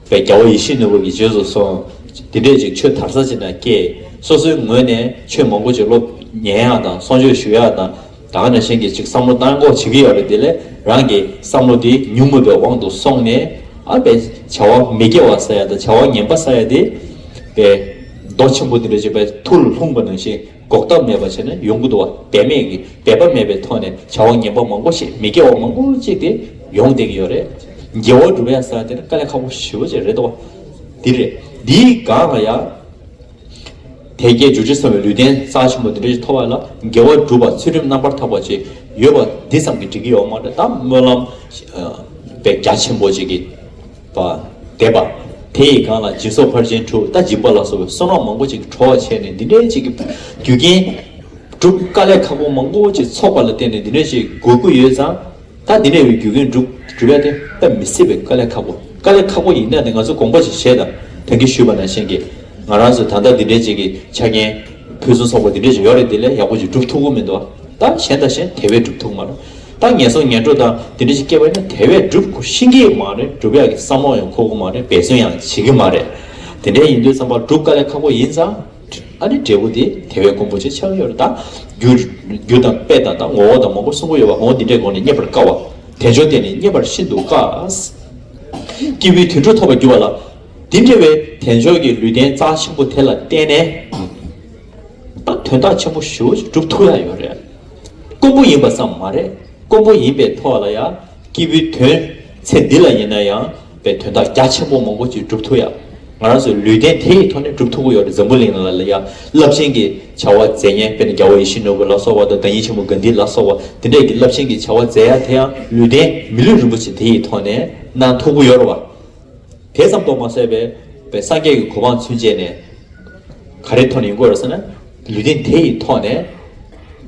པའི་རྒྱལ་པོ་ཡེ་ཤེས་ནོར་བུ་ཡི་རྗེས་སུ་སོང། དེ་འདྲས་ཅིག་ཆོས་དར་ས་ཅི་ན་སྐྱེས། སོ་སོའི་ངོས་ནས་ཆོས་མང་པོ་ཅིག་སློབ། ཉན་ཡག་དང་གསོང་ཆོས་ཞུ་ཡག་དང། གང་ན་གཞན་གྱིས་ཅིག་བསམ་བློ་གཏང་གོ་བྱེད་ཀྱི་ཡོད་པ་དེ་ལས་རང་གི་བསམ་བློ་དེ་ཉུང་མོད་པའི་དབང་དུ་སོང་ནས། ཨ་པའི་བྱ་བ་མི་དགེ་བ་ས་ཡ་དང་བྱ་བ་ངན་པ་ས་ཡ་དེ། པའི། མདོ་ཆེན་པོ་དེ་འདྲས་ཅིག་པའི་ཐུགས་ལ་ལྷུང་བ་ནང་བཞིན་འགོག་ཐབས་མེད་པར་བྱས་ན་ཡོང་གི་འདུག་བ་དད་མེད་ཀྱི་དད་པ་མེད་པའི་ཐོག་ནས་བྱ་བ་ངན་པ་མང་པོ་ཞིག་མི་དགེ་བ་མང་པོ་ཅིག་དེ་ཡོང་བསྡད་ཀྱི་ཡོད་རེད། དགེ་བ་སྒྲུབ་ཡ་ས་དེ་ནི་དཀའ་ལས་ཁག་པོ་ཞི་བ་ཅིག་རེད་འདུག་བ། འདི་རེད། འདིའི་སྒང་ལ་ཡང། དད་བརྒྱད་འཇུ་བྱེད་གསུམ་བའི་ལུས་རྟེན་རྩ་ཆེན་པོ་འདི་འདྲ་ཞིག་ཐོབ་པ་ལ་དགེ་བ་སྒྲུབ་པར་ཚུལ་ཁྲིམས་རྣམ་པར་དག་པ་ཅིག་ཡོད་པ་འདི་ཙམ་གྱིས་འགྲིག་གི་ཡོད་མ་རེད་དམ་སྨོན་ལམ། དཔེ་རྒྱ་ཆེན་པོ་ཅིག་གིས། པ། བཟླས་པ། དེ་ཡི་སྒང་ལ་སྦྱིན་སོགས་ཕར་ཕྱིན་དྲུག་རྟ་འཇིགས་པ་ལ་སོགས་པའི་གསོལ་རོགས་མང་པོ་ཅིག་གྲོགས་བྱས་ནས་འདི་འདྲའི་ཅིག་གི་རྒྱུ་རྐྱེན། སྒྲུབ་དཀའ་ལས་ཁག་པོ་མང་པོ་ཅིག་ཚོགས་པ་ལ་བརྟེན་ནས་འདི་འདྲའི་ཅིག་དགོས་མཁོ་ཡོད་ཙང། ད་འདི་འདྲའི་བའི་རྒྱུ་རྐྱེན་སྒྲུབ་རྒྱུ་རེད་དེ་ལྟ་མི་སྲིད་པའི་དཀའ་ལས་ཁག་པོ་དཀའ་ལས་ཁག་པོ་ཡིན་ན་དེ་ང་ཚོས་དགོངས་པ་ཅིག་བཞེས་དང་དོན་གྱིས་ཞུས་པ་ནང་བཞིན་གྱིས། ང་རང་ཚོས་ད་ལྟ་འདི་འདྲའི་ཅིག་གི་ཆ་རྐྱེན། ཕུན་སུམ་ཚོགས་པ་འདི་འདྲའི་ཅིག་ཡོད་རེད་དེ་ལས་ཡག་པོ་ཅིག་སྒྲུབ་ཐུབ་ཀྱི་མི་འདུག་ད་གཞན་དང་གཞན་དེ་བས་སྒྲུབ་ཐུབ་ཀྱི་མ་རེད། ད་ངན་སོང་ངན་འགྲོ་དང་དེ་འདྲ་ཞིག་སྐྱེ་བ་ནི་དེ་བས་སྒྲུབ་དགོས་ཤིང་གི་མ་རེད་སྒྲུབ་ཡག་གི་བསམ་བློ་ཡང་འཁོར་གི་མ་རེད་འབད་བརྩོན་ཡང་བྱེད་གི་མ་རེད་དེ་འདྲ་ཡིན་དུས་བསམ་པ་སྒྲུབ་དཀའ་ལས་ཁག་པོ་ཡིན་ཙང་ཨ་ནི་འབྲས་བུ་དེ་དེ་བས་དཀོན་པོ་ཆེ་ཆགས་ཀྱི་ཡོད་རེད་ད། རྒྱུ་དང་དཔེ་དང་དང་ངོ་བོ་དང་མང་པོ་གསུངས་གི་ཡོད་པ་གོང་འོག་འདི་འདྲའི་སྒོ་ནས་རྙེད་པར་དཀའ་བ། དལ་འབྱོར་བརྟེན་ནས་རྙེད་པར་ཤིན་ཏུ་དཀའ། སྐྱེས་བུའི་དུད་འགྲོ་ཐོབ་པར་འགྱུར་བ་ལ། འདི་འདྲ་བའི་དལ་འབྱོར་གྱི་ལུས་རྟེན་རྩ་ཆེན་པོ་དེ་ལ་བརྟེན་ནས། དང་དོན་དག་ཆེན་པོ་ཞུ་སྒྲུབ་ཐུབ་ཡག་ཡོད་རེད། དཀོན་པོ་ཡིན་པ་ཙམ་མ་རེད་དཀོན་པོ་ཡིན་པའི་ཐོག་ལ་ཡང་སྐྱིད་པོའི་དོན་ཚེ་འདི་ལ་ཡིན་ན་ཡང་བའི་དོན་དག་རྒྱ་ཆེན་པོ་མང་པོ་ཅིག་སྒྲུབ་ཐུབ་ཡག་ང་རང་ཚོའི་ལུས་རྟེན་དེ་ཡི་ཐོག་ནས་སྒྲུབ་ཐུབ་ཀྱི་ཡོད་རེད་འཛམ་བུ་གླིང་ལ་ལ་ཡང་རླབས་ཆེན་གྱི་བྱ་བ་མཛད་ཉན་དཔེར་ན་རྒྱལ་བོ་ཡེ་ཤེས་ནོར་བུ་ལ་སོགས་པ་དང་བདག་ཉིད་ཆེན་པོ་གཱན་དྷི་ལ་སོགས་པ་དེ་འདྲས་ཀྱི་རླབས་ཆེན་གྱི་བྱ་བ་མཛད་ཡག་དེ་ཡང་ལུས་རྟེན་མི་ལུས་རིན་པོ་ཆེ་དེ་ཡི་ཐོག་ནས་གནང་ཐུབ་ཀྱི་ཡོད་རེད་བ། དེ་ཙམ་དུ་མ་ཟད་པའི་པའི་སངས་རྒྱས་ཀྱི་གོ་འཕང་ཚུན་ཆད་ནས་ག་རེའི་ཐོག་ནས་ཡིན་དགོས་ར་ཟེར་ན། ལུས་རྟེན་དེ་ཡི་ཐོག་ནས་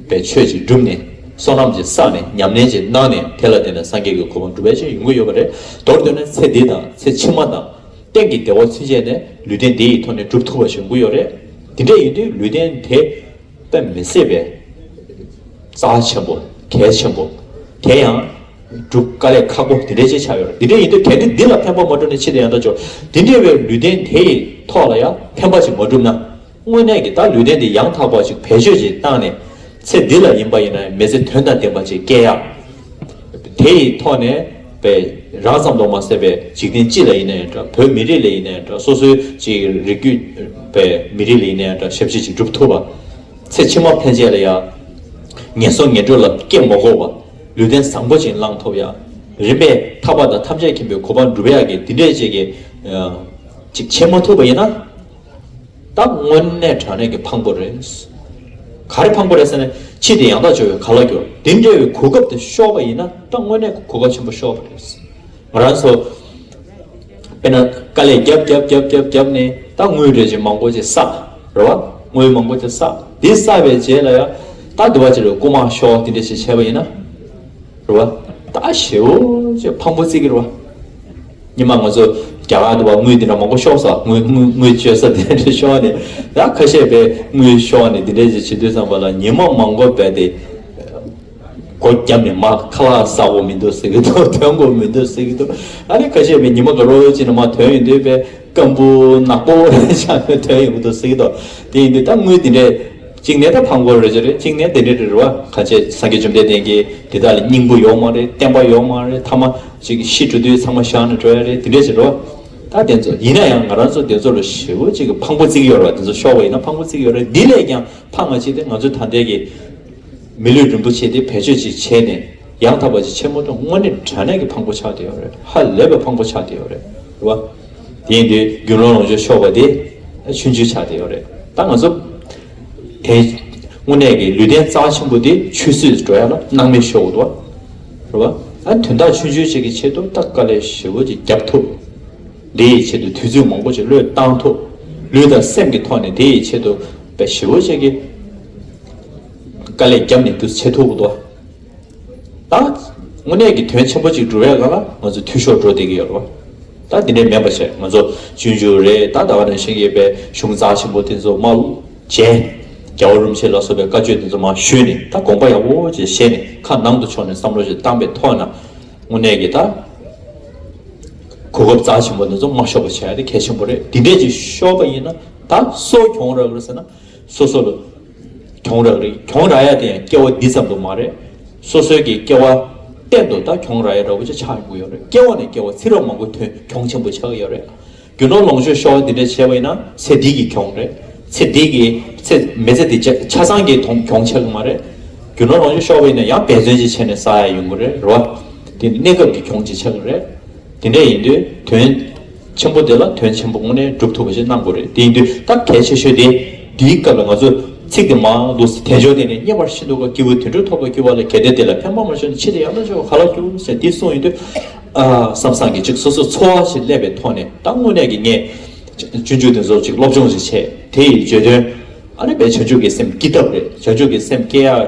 པའི་ཆོས་ཅིག་བསྒྲུབས་ནས་བསོད་ནམས་ཅིག་བསགས་ནས་ཉམས་ལེན་ཅིག་གནང་ནས་དེ་ལ་བརྟེན་ནས་སངས་རྒྱས་ཀྱི་གོ་འཕང་འགྲུབ་པའི་ཆེད་ཡིན་དགོས་ཡོད་པ་རེད། མདོར་བསྡུས་ན་ཚེ་འདི་དང་ཚེ་ཕྱི་མ་དང། གཏན་གྱི་བདེ་བ་ཚུན་ཆད་ནས་ལུས་རྟེན་དེ་ཡི་ཐོག་ནས་བསྒྲུབ་ཐུབ་པ་ཞིག་ཡིན་དགོས་ཡོད་རེད། དེ་འདྲ་ཡིན་དུས་ལུས་རྟེན་དེ་པའི་མི་སྲིད་པའི། རྩ་ཆེན་པོ་གལ་ཆེན་པོ་དེ་ཡང། སྒྲུབ་དཀའ་ལས་ཁག་པོ་འདི་འདྲའི་ཅི་ཆ་ཡོད་ར་འདི་འདྲའི་ཡིན་དུས་གལ་ཏེ་འདི་ལ་ཕན་པ་མ་བསྒྲུབས་ནས་ཕྱི་དེ་ཡང་དག་འཇོག་འདི་འདྲའི་བའི་ལུས་རྟེན་དེ་ཡི་ཐོག་ལ་ཡང་ཕན་པ་ཅིག་མ་བསྒྲུབས་ན་དངོས་གནས་ཀྱི་ད་ལུས་རྟེན་འདི་ཡང་དག་པ་ཅིག་བེད་སྤྱོད་ཅིག་བཏང་ནས་ཚེ་འདི་ལ་ཡིན་པ་ཡིན་ན་མི་ཚེ་དོན་དང་ལྡན་པ་ཅིག་སྐྱེལ་ཡག་དེ་ཡི་ཐོག་ནས་བས་རང་ཙམ་དུ་མ་ཟད་པའི་འཇིག་རྟེན་སྤྱི་ལ་ཡིན་ན་ཡང་འདྲ་བོད་མི་རིགས་ལ་ཡིན་ན་ཡང་འདྲ་སོ་སོའི་ཅིག་རིགས་རྒྱུད་བའི་མི་རིགས་ལ་ཡིན་ན་ཡང་འདྲ་ཞབས་ཕྱི་ཅིག་བསྒྲུབ་ཐུབ་པ། ཚེ་ཕྱི་མ་ཕན་ཆད་ལ་ཡང་ངན་སོང་ངན་འགྲོ་ལ་སྐྱེ་མ་དགོས་པ། ལུས་རྟེན་བཟང་པོ་བྱིན་བརླང་ཐོབ་ཡ། རིམ་པས་ཐར་པ་དང་ཐམས་ཅད་མཁྱེན་པའི་གོ་འཕང་འགྲུབ་ཡག་གི་འདི་འདྲས་བྱེད་ཀྱི། ཅིག་བྱེད་མ་ཐུབ་པ་ཡིན་ན། ད་དངོས་གནས་དྲང་གནས་ཀྱི་ཕངས་པོ་རེད། ག་རེ་ཕངས་པོ་རེད་ཟེར་ན་ཕྱིས་དེ་ཡང་དག་འབྱོར་བའི་ག་ལ་འགྱོར་འདི་འདྲ་བའི་གོ་སྐབས་དེ་ཤོར་བ་ཡིན་ན་ད་དངོས་གནས་ཀྱི་གོ་སྐབས་ཆེན་པོ་ཤོར་བ་རེད། ང་རང་ཚོ། དཔེར་ན་དཀའ་ལས་བརྒྱབ་བརྒྱབ་བརྒྱབ་བརྒྱབ་བརྒྱབ་ནས་ད་དངུལ་རེ་ཅན་མང་པོ་ཅིག་བསགས། རེད་བ། དངུལ་མང་པོ་ཅིག་བསགས། དེ་བསགས་པའི་རྗེས་ལ་ཡང་ད་དེ་བ་ཅིག་རེ་རྐུ་མ་ཤོག་དེ་འདྲས་ཞིག་བྱས་པ་ཡིན་ན། རེད་བ། ད་ཞེ་བོ་ཅིག་ཕངས་པོ་བརྩིགས་གི་རེད་བ། ཉི་མ་ང་ཚོ་རྒྱ་གར་དུ་བ་དངུལ་དེ་འདྲ་མང་པོ་ཤོག་ས་དངུལ་དངུལ་སྤྱོད་ས་དེ་འདྲས་ཤོག་ནས་ད་ཁ་ཤས་པས་དངུལ་ཤོག་ནས་དེ་འདྲས་ཅིག་བྱེད་དུས་ཚང་མ་ལ་ཉི་མ་མང་པོ་འབད་དེ། སྒོ་རྒྱབ་ནས་མ་ཁ་ལག་ཟ་གོ་མི་འདུག་ཟེར་གི་འདུག་དོན་གོ་མི་འདུག་ཟེར་གི་འདུག་ཨ་རེ་ཁ་ཤས་པའི་ཉི་མ་ག་རོ་གཅིག་ན་མ་དོན་ཡོད་འདུག་པས་སྐམ་པོ་ནག་པོ་ཆགས་ན་དོན་ཡོད་གི་འདུག་ཟེར་གི་འདུག་དེ་ཡིན་དུས་ད་དངུལ་འདི་འདྲས་གཅིག་ནས་ད་ཕང་གོ་རེ་བྱེད་རེ་གཅིག་ནས་དེ་འདྲས་རེ་རེ་བ་ཁ་ཆེ་སངས་རྒྱས་བཅོམ་ལྡན་འདས་ཀྱིས་དེ་དག་ལ་སྙིང་པོ་ཡོག་མ་རེ་བསྟན་པ་ཡོག་མ་རེ་མཐའ་མ་ཅིག་གིས་ཤི་འགྲོ་དུས་ཚང་མ་བཞག་ནས་འགྲོ་ཡ་རེ་དེ་འདྲས་བྱེད་རོགས་ད་དེ་ཚོ་ཡིན་ན་ཡང་ང་རང་ཚོ་དེ་ཚོ་ལ་ཞེ་བོ་ཅིག་གིས་ཕང་པོ་བརྩིགས་ཡོད་རེ་བ་དེ་ཚོ་ཤོར་བ་ཡིན་ན་ཕང་པོ་བརྩིགས་ཡོད་རེ་འདི་ལས་ཀྱང་ཕང་ང་ཅིག་དེ་ང་ཚོའི་ད་ལྟའི་གི། མི་ལུས་རིན་པོ་ཆེ་དེ་བེད་སྤྱོད་ཅིག་བྱས་ནས་ཡང་དག་པ་ཅིག་ཆེན་མོ་དང་དངོས་གནས་དྲ་གནས་ཀྱི་ཕང་པོ་ཆགས་ཏེ་ཡོད་རེད་ཧ་ལས་པའི་ཕང་པོ་ཆགས་ཏེ་ཡོད་རེད་བ། དེ་ཡིན་དུས་རྒྱུ་ནོར་ལོངས་སྤྱོད་ཤོར་བ་དེ་ཆུན་ཆུན་ཆགས་ཏེ་ཡོད་རེད་ད་ང་ཚོ། དེ་དངོས་གནས་ཀྱི་ལུས་རྟེན་རྩ་ཆེན་པོ་དེ་ཆུད་ཟོས་འགྲོ་ཡ་ལ་སྣང་མེད་ཤོར་བ། རེད་བ། ད་དོན་དག་ཆུན་ཆུན་ཅིག་གི་ཆེད་དུ་ད་དཀའ་ལས་ཞེ་བོ་ཅིག་བརྒྱབ་ཐུབ། དེ་ཡི་ཆེད་དུ་དུས་ཚོད་མང་པོ་ཅིག་བློས་བཏང་ཐུབ། ལུས་དང་སེམས་ཀྱི་ཐོག་ནས་དེ་ཡི་ཆེད་དུ་བས་ཞེ་བོ་ཅིག་གི། དཀའ་ལས་བརྒྱབ་ནས་སྒྱུ་རྩལ་ཐུགས་ཀྱི་བདག་དངོས་གནས་ཀྱི་དོན་ཆེན་པོ་གཅིག་འགྲུབ་བས་ལ་ལ་ང་ཚོ་འཐུས་ཤོར་འགྲོ་བསྡད་ཀྱི་ཡོད་རེད་པ། ད་འདི་འདྲའི་མེད་པ་བྱས་ང་ཚོ་གཅོད་འཇུག་རེད་ད་ད་བར་ནས་ཤེས་ཀྱི་ཡོད་པའི་གཞུང་རྩ་ཆེན་པོ་དེ་ཚོ་མ་བྱས། རྒྱ་བོ་རུམ་ཆེ་ལ་སོགས་པའི་བཀའ་ཆོས་དེ་ཚོ་མ་ཞུས་ནས་ད་དགོངས་པ་ཡག་པོ་བཅས་བཞེས་ནས་ཁ་ནང་དུ་ཕྱོགས་ནས་བསམ་བློ་ཞིག་བཏང་པའི་ཐོག་ན་དངོས་གནས་ཀྱི་ད་གོ་སྐབས་རྩ་ཆེན་པོ་དེ་ཚོ་མ་ཤོར་བ་བྱས་ན་གལ་ཆེན་པོ་རེད་འདི་འདྲས་ཅིག་ཤོར་བ་ཡིན་ན་ད་གསོ་གྱོང་རག་རེད་ཟེར་ན་སོ་སོ་ལ། གྱོང་རག་རེད་གྱོང་རག་ཡ་དེ་ཡང་སྐྱེ་བ་འདི་ཙམ་དུ་མ་རེད། སོ་སོའི་གི་སྐྱེ་བ་གཏན་དུ་ད་གྱོང་རག་ཡ་རག་པོ་ཅི་ཆགས་ཡོང་གི་ཡོད་རེད་སྐྱེ་བ་ནས་སྐྱེ་བ་ཚི་རག་མང་པོ་ཐོན་གྱོང་ཆེན་པོ་ཆགས་གི་ཡོད་རེད། རྒྱུ་ནོར་ལོངས་སྤྱོད་ཤོར་བ་འདི་འདྲ་བྱས་པ་ཡིན་ན་ཚེ་འདི་གི་གྱོང་རེད། ཚེ་འདི་གི་ཚེ་མེ་ཚེ་འདི་ཆ་ཚང་གི་ཐོང་གྱོང་ཆགས་གི་མ་རེད། རྒྱུ་ནོར་ལོངས་སྤྱོད་ཤོར་བ་ཡིན་ན་ཡང་འབད་བརྩོན་ཅིག་བྱས་ནས་བསགས་ཡ་ཡོང་གི་རེད་རེད་བ། དེ་ནི་གནས་སྐབས་ཀྱི་གྱོང་ཅིག་ཆགས་གི་རེད། དེ་འདྲ་ཡིན་དུས་དོན། ཆེན་པོ་དེ་ལ་དོན་ཆེན་པོ་དངོས་གནས་འགྲུབ་ཐུབ་པ་ཞིག་གནང་དགོས་རེད་དེ་ཡིན་དུས་སྟབས་གལ་ཆེ་ཤོས་དེ། འདིའི་སྐབས་ལ་ང་ཚོས། ཚིག་དེ་མང་འདུག་ཟེར་དལ་འབྱོར་དེ་ནི་རྙེད་པར་ཤིན་ཏུ་དཀའ་སྐྱེ་བོའི་དུད་འགྲོ་ཐོབ་པར་སྐྱོ་བ་ལས་གལ་ཏེ་དེ་ལ་ཕན་པ་མ་བྱུང་ན་འཆི་ལྟས་ཡང་དག་འབྱོར་བ་ག་ལ་འགྱུར་ཟེར་འདི་གསུངས་ཡིན་དུས། བསམ་བསམ་གྱིས་ཅིག་སོ་སོའི་འཚོ་བ་ཞིག་བསླད་པའི་ཐོག་ནས་ད་དངོས་གནས་ཀྱི་ངས། སྤྱོད་འཇུག་དེ་ཚོར་ཅིག་སློབ་སྦྱོང་ཞིག་བྱས་དེ་ཡི་བརྗོད་དོན། ཨ་རི་བའི་བྱང་ཆུབ་ཀྱི་སེམས་སྐྱིད་ཐབས་རེད་བྱང་ཆུབ་ཀྱི་སེམས་སྐྱེ་ཡག།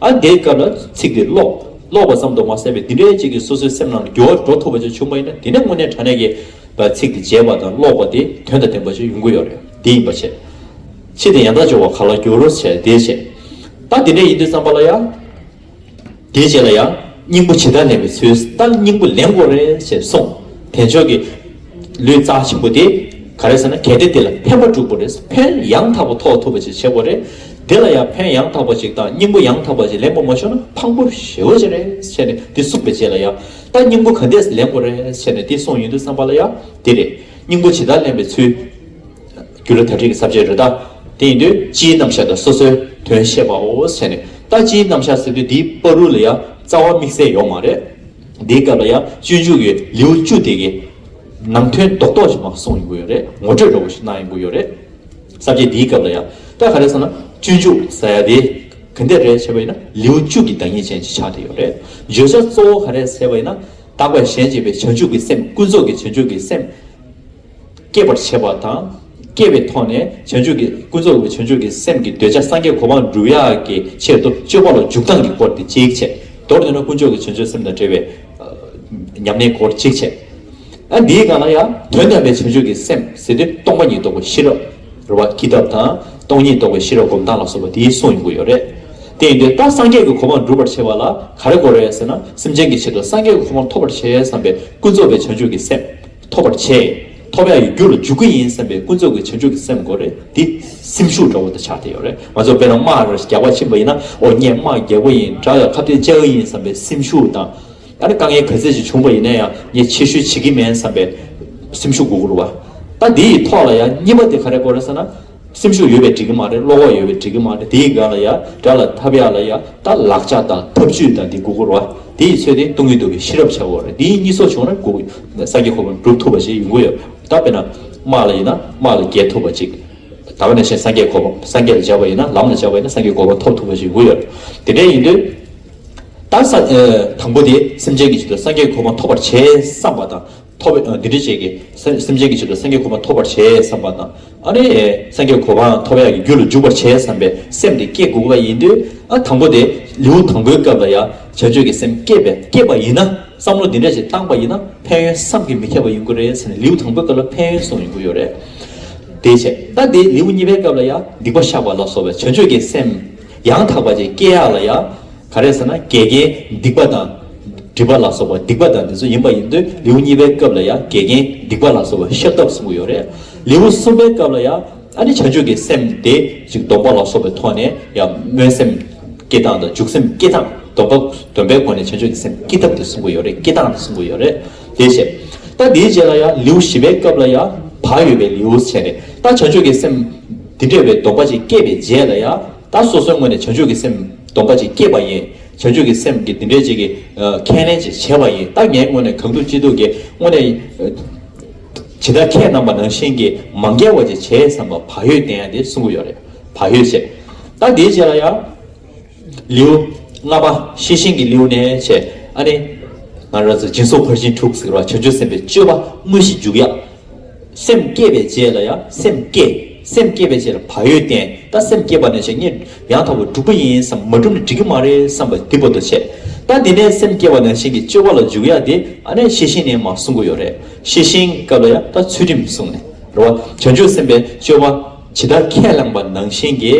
ཨ་འདས་སྐབས་ལ་ཚིག་དེ་ཀློག། ཀློག་པ་ཙམ་དུ་མ་ཟད་པའི་འདི་འདྲའི་བཅས་ཀྱིས་སོ་སོའི་སེམས་ནང་ལ་འགྱུར་བ་འགྲོ་ཐུབ་པ་བཅས་བྱུང་བ་ཡིན་ན་དེ་ནས་དངོས་གནས་དྲ་གནས་ཀྱི་བར་ཚིག་དེ་བརྗེད་པ་དང་ཀློག་པ་དེ་དོན་དང་ལྡན་པ་བཅས་ཡོང་གི་ཡོད་རེད་འདི་ཡིན་པ་བྱས། ཕྱིས་དེ་ཡང་དག་སྦྱོར་བ་ག་ལ་འགྱུར་རོ་བྱས་དེ་བྱས། རྟགས་འདི་འདྲ་ཡིན་དུས་བརྩམས་པ་ལ་ཡང། དེ་བྱས་ལ་ཡང་སྙིང་པོ་ཇི་ལྟར་ལེན་པའི་ཚུལ་ལྟར་སྙིང་པོ་ལེན་དགོས་རེད་ཅེས་གསུངས། དེ་མཆོག་གིས། ལུས་རྩ་ཆེན་པོ་དེ་ག་རེ་ཟེར་ན་གལ་ཏེ་དེ་ལ་ཕན་པ་དྲུག་པོ་རེས་ཕན་ཡང་དག་པ་ཐོགས་ཐུབ་པ་ཞིག་བྱེད་དགོས་རེད། དེ་ལ་ཡང་ཕན་ཡང་དག་པ་ཞིག་དང་སྙིང་པོ་ཡང་དག་པ་ཞིག་ལེན་དགོས་མ་བྱུང་ན་ཕངས་པོ་ཞེ་བོ་ཅི་རེད་བྱས་ནས་དེ་གསུངས་པའི་རྗེས་ལ་ཡང་ད་སྙིང་པོ་ག་འདས་ལེན་དགོས་རེད་བྱས་ནས་དེ་གསུངས་ཡོད་འདུག་བསམ་པ་ལ་ཡང་དེ་རེད་སྙིང་པོ་ཇི་ལྟར་ལེན་པའི་ཚུལ། རྒྱུ་ལ་དག་སྒྲིག་གི་ཟབ་ཆའི་རོལ་རྟ་དེ་ཡིན་དུས་སྤྱིའི་རྣམ་གཞག་དང་སོ་སོའི་དོན་བཤད་པའོ་བྱས་ནས་ད་སྤྱིའི་རྣམ་གཞག་ཟེར་དུས་འདིའི་པར་རུ་ལ་ཡང་རྩ་བ་དམིགས་བསལ་ཡོག་མ་རེད། འདིའི་སྐབས་ལ་ཡང་སྤྱོད་འཇུག་གི་ལེའུ་བཅུ་སྟེ་གི། ནང་དོན་རྡོག་རྡོག་ཅིག་མ་གསུངས་ཡོང་གི་ཡོད་རེད། ངོ་སྤྲོད་འདྲ་བོ་ཞིག་གནང་ཡོང་གི་ཡོད་རེད། བསམ་གྱི་འདིའི་སྐབས་ལ་ཡང། ད་ག་རེ་སོང་ན། སྤྱོད་འཇུག་ཟ་ཡ་དེ། ག་འདི་རེད་བྱས་པ་ཡིན་ན་ལེའུ་བཅུ་གི་བདག་ཉིད་ཅན་གྱི་ཆ་དེ་ཡོད་རེད། བརྗོད་བྱ་གཙོ་བོ་ག་རེད་ཟེར་བ་ཡིན་ན། དག་པའི་གཞན་གཅེས་པའི་བྱང་ཆུབ་ཀྱི་སེམས་ཀུན་རྫོབ་ཀྱི་བྱང་ཆུབ་ཀྱི་སེམས། སྐྱེད་པར་བྱེད་པ་དང། སྐྱེ་བའི་ཐོག་ནས་བྱང་ཆུབ་ཀྱི་ཀུན་རྫོབ་བྱང་ཆུབ་ཀྱི་སེམས་ཀྱི་འདོད་ཆགས་སངས་རྒྱས་གོ་འཕང་བསྒྲུབ་ཡ་གི་ཆེད་དུ་སྤྱོད་པ་ལ་འཇུག་ལྡང་གི་སྐོར་ཏེ་གཅིག་བྱས། མདོར་བསྡུ་ན་དཀོན་མཆོག་གི་བྱང་ཆུབ་སེམས་དང་བྲལ་བའི། ཉམས་ལེན་སྐོར་གཅིག་བྱས། ཨ་འདིའི་སྒང་ལ་ཡང་དོན་དམ་པའི་བྱང་ཆུབ་ཀྱི་སེམས་ཟེར་དུས་སྟོང་པ་ཉིད་རྟོགས་པའི་ཤེས་རབ། རོལ་བ་ཀི་ཐབས་དང། སྟོང་ཉིད་རྟོགས་པའི་ཤེས་རབ་སྒོམ་སྟངས་ལ་སོགས་པ་དེའི་གསུང་ཡོང་གི་ཡོད་རེད། དེ་ཡིན་དུས་ད་སངས་རྒྱས་ཀྱི་གོ་འཕང་བསྒྲུབ་པར་བྱེད་པ་ལ་ག་རེ་གོ་རེད་ཟེར་ན་སེམས་ཅན་གྱི་ཆེད་དུ་སངས་རྒྱས་ཀྱི་གོ་འཕང་ཐོབ་པར་བྱེད་བསམ་པའི་ཀུན་རྫོབ་པའི་བྱང་ཆུབ་ཀྱི་སེམས། ཐོབ་པར་བྱས། ཐོབ་ཡ་ཡི་རྒྱུ་ལ་འཇུག་གི་ཡིན་བསམ་པའི་ཀུན་རྫོབ་ཀྱི་བྱང་ཆུབ་ཀྱི་སེམས་དགོས་རེད་དེ། སེམས་ཤུགས་འདྲ་བོ་དང་ཆ་དེ་ཡོད་རེད་མ་ཚོགས་པས་ན་དམག་ར་རྒྱག་པ་ཕྱིན་པ་ཡིན་ན་ཨོ་སྙེད་དམག་རྒྱག་པ་ཡིན་དྲག་ཡ་ཁ་བརྡའི་བཅའ་ཡིན་བསམ་པའི་སེམས་ཤུགས་དང། ད་ནི་དཀའ་ངལ་ག་ཚད་ཅིག་བྱུང་པ་ཡིན་ན་ཡང་ངས་ཆེ་ཤོས་བྱེད་ཀྱི་མེད་བསམ་པའི་སེམས་ཤུགས་དགོས་དགོས་རུ་བ། ད་འདི་ཡི་ཐོག་ལ་ཡང་གཉིས་པ་དེ་ག་རེ་དགོས་རེད་ཟེར་ན། སེམས་ཤུགས་ཡོད་པའི་འགྲིག་གི་མ་རེད་བློ་ཁོག་ཡོད་པའི་འགྲིག་གི་མ་རེད་དེ་ཡི་ག་ལ་ཡ་དགྲ་ལ་ཐབས་ཡ་ལ་ཡ་དག་ལག་ལྕགས་དང་ཐབས་ཇུས་དང་དེ་དགུ་བསྐུར་བ་དེ་ཡི་ཚོད་དེ་ཏུང་གི་དུ་བའི་ཤི་རབ་ཆགས་དགོས་རེད་དེ་ཡི་གཉིས་སོགས་བྱུང་རེད་དགུ་ས་དགེ་ཁོ་པ་འགྲུབ་ཐུབ་པ་ཞིག་ཡོང་གི་ཡོད་རེད་ད་དཔེ་ན་དམག་ལ་ཡིན་ན་དམག་ལ་རྒྱལ་ཐུབ་པ་ཅིག་ད་ག་ནས་ཤེས་ས་དགེ་ཁོ་པ་ས་དགེ་ལ་བྱ་བ་ཡིན་ན་ལམ་ལ་བྱ་བ་ཡིན་ན་ས་དགེ་ཁོ་པ་ཐོབ་ཐུབ་པ་ཞིག་ཡོང་གི་ཡོད་རེད་དེ་འདྲ་ཡིན་དུས་ད་ས་དང་པོ་དེ་སེམས་ཅན་གྱི་ཆེད་དུ་ས་དགེ་ཁོ་པ་ཐོབ་པར་བྱེད་བསམ་པ་དང། ཐོབ་པས་བདུད་འདྲེ་བྱད་ཀྱི་སེམས་ཅན་གྱི་ཆེད་དུ་སེང་གེའི་ཁོ་པ་ཐོབ་པར་བྱས་བསམས་པ་དང། ཨ་རེ། སེང་གེའི་ཁོ་པའང་ཐོབ་ཡག་གི་རྒྱུ་ལ་འཇུག་པར་བྱས་བསམས་པའི་སེམས་དེ་སྐྱེ་དགོས་པ་ཡིན་དུས། ཨ་དང་པོ་དེ་ལེའུ་དང་པོའི་སྐབས་ལ་ཡང་བྱ་སྤྱོད་ཀྱི་སེམས་སྐྱེས་པས་སྐྱེས་པ་ཡིན་ན་བསམ་བློ་འདི་འདྲ་ཞིག་བཏང་པ་ཡིན་ན་ཕན་ཡོན་བསམ་གྱི་མི་ཁྱབ་པ་ཡིན་དགོས་རེད་ཟེར་ནས་ལེའུ་དང་པོའི་སྐབས་ལ་ཕན་ཡོན་གསུངས་ཡོང་གི་ཡོད་རེད། དེའི་ཕྱིར་ད་དེ་ལེའུ་གཉིས་པའི་སྐབས་ལ་ཡང་སྡིག་པ་བཤགས་པ་ལ་སོགས་པའི་བྱ་སྤྱོད་ཀྱི་སེམས། ཡང་དག་པ་ཅན་སྐྱེ་ཡག་ལ་ཡང། ག་རེ་ཟེར་ན་འགལ་རྐྱེན་སྡིག་པ་དང། སྒྲིབ་པ་ལ་སོགས་པ་སྡིག་པ་དང་འདི་ཚོ་ཡིན་པ་ཡིན་དུས་ལེའུ་གཉིས་པའི་སྐབས་ལ་ཡང་འགལ་རྐྱེན་སྡིག་པ་ལ་སོགས་པ་ཤེས་སྟབས་གསུངས་ཀྱི་ཡོད་རེད། ལེའུ་གསུམ་པའི་སྐབས་ལ་ཡང་ཨ་ནི་བྱང་ཆུབ་ཀྱི་སེམས་དེ་ཅིག་སྡོམ་པ་ལ་སོགས་པའི་ཐོག་ནས་ཡང་སྨོན་སེམས་སྐྱེ་སྟངས་དང་འཇུག་སེམས་སྐྱེ་སྟངས་སྡོམ་པ་སྡོམ་པའི་སྒོ་ནས་བྱང་ཆུབ་ཀྱི་སེམས་སྐྱེ་ཐབས་དེ་གསུངས་ཀྱི་ཡོད་རེད་སྐྱེ་སྟངས་དེ་གསུངས་ཀྱི་ཡོད་རེད། དེ་བཤད། ད་དེའི་རྗེས་ལ་ཡང་ལེའུ་བཞི་པའི་སྐབས་ལ་ཡང་བག་ཡོད་པའི་ལེའུ་བྱས་ནས་ད་བྱ་སྤྱོད་ཀྱི་སེམས། འདི་འདྲ་བའི་སྡོམ་པ་ཅིག་སྐྱེས་པའི་རྗེས་ལ་ཡང་ད་སོ་སོའི་ངོས་ནས་བྱ་སྤྱོད་ཀྱི་སེམས་སྡོམ་པ་ཅིག་སྐྱེས་པ་ཡིན། བྱ་སྤྱོད་ཀྱི་སེམས་ཀྱི་འདི་འདྲའི་ཅིག་གིས་ཁས་ལེན་ཅིག་བྱས་པ་ཡིན་ད་ངའི་ངོས་ནས་གང་ཐུག་ཅི་ཐུག་གིས་དངོས་གནས། ཇི་ལྟར་ཁྱེད་རྣམས་པ་ནང་བཞིན་གྱིས་མ་འགལ་བ་ཅིག་བྱས་བསམ་པ་བག་ཡོད་བསྟན་ཡ་དེ་གསུང་གི་ཡོད་རེད་བག་ཡོད་བཤད། ད་དེའི་རྗེས་ལ་ཡང། ལེའུ་ལྔ་པ་ཤེས་བཞིན་གྱི་ལེའུ་ནས་བྱས་ཨ་ནི། ང་རོ་ཟེར་སྦྱིན་སོགས་ཕར་ཕྱིན་དྲུག་ཟེར་བ་བྱང་ཆུབ་སེམས་དཔའི་སྤྱོད་པ་དངོས་གཞི་འཇུག་ཡ། སེམས་བསྐྱེད་པའི་རྗེས་ལ་ཡང་སེམས་བསྐྱེད། སེམས་བསྐྱེད་པའི་རྗེས་ལ་བག་ཡོད་བསྟེན་ད་སེམས་བསྐྱེད་པ་ནས་བྱས་ངས་ཡང་དག་པར་སྒྲུབ་པ་ཡིན་བསམ་མ་སྒྲུབ་ནས་འགྲིག་གི་མ་རེད་བསམ་པ་འདི་པོ་ཏོ་བྱས། ད་འདི་ནས་སེམས་བསྐྱེད་པ་ནང་བཞིན་གྱི་སྤྱོད་པ་ལ་འཇུག་ཡ་དེ་ཨ་ནི་ཤེས་བཞིན་ནས་མ་གསུང་གི་ཡོད་རེད་ཤེས་བཞིན་སྐབས་ལ་ཡང་ད་ཚུལ་ཁྲིམས་གསུངས་ནས་རེད་བ་བྱང་ཆུབ་སེམས་དཔའི་སྤྱོད་པ་ཇི་ལྟར་ཁས་བླངས་པ་ནང་བཞིན་གྱི།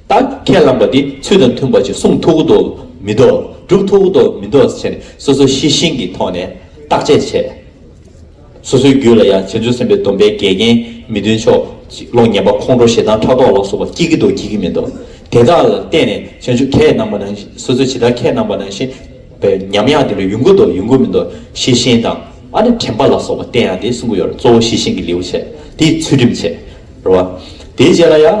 བདག་གིས་ཁས་བླངས་པ་འདི་ཚུལ་དང་མཐུན་པ་ཅིག་གསུང་ཐུགས་ཀ་དོག་མི་དོག་སྒྲུབ་ཐུགས་ཀ་དོག་མི་དོག་བྱས་ནས་སོ་སོའི་གཤེ་གཤེན་གྱི་ཐོག་ནས་བརྟག་དཔྱད་བྱས། སོ་སོའི་རྒྱུད་ལ་ཡང་བྱང་ཆུབ་སེམས་དཔའི་སྡོམ་པའི་འགལ་རྐྱེན་མི་མཐུན་ཕྱོགས་ཀློང་བརྙན་པ་ཁོང་ཁྲོ་ཞེ་སྡང་ཕྲག་དོག་ལ་སོགས་པ་སྐྱེ་གི་དོག་སྐྱེ་གི་མི་དོག་དེ་དག་ལ་བརྟེན་ནས་བྱང་ཆུབ་ཁས་བླངས་པ་ནང་བཞིན་སོ་སོས་ཇི་ལྟར་ཁས་བླངས་པ་ནང་བཞིན་པའི་ཉམས་ཡང་དེ་འདྲ་ཡོང་གི་དོག་ཡོང་གི་མི་དོག་གཤེ་གཤེན་དང། ཨ་ནི་དྲན་པ་ལ་སོགས་པ་བསྟན་ཡང་དེ་གསུང་གི་ཡོད་རེད་གཙོ་བོ་གཤེ་གཤེན་གྱི་ལེའུ་བྱས་དེའི་ཚུལ་ཁྲིམས་བྱས་རེད་བ། དེའི་རྗེས་ལ་ཡང།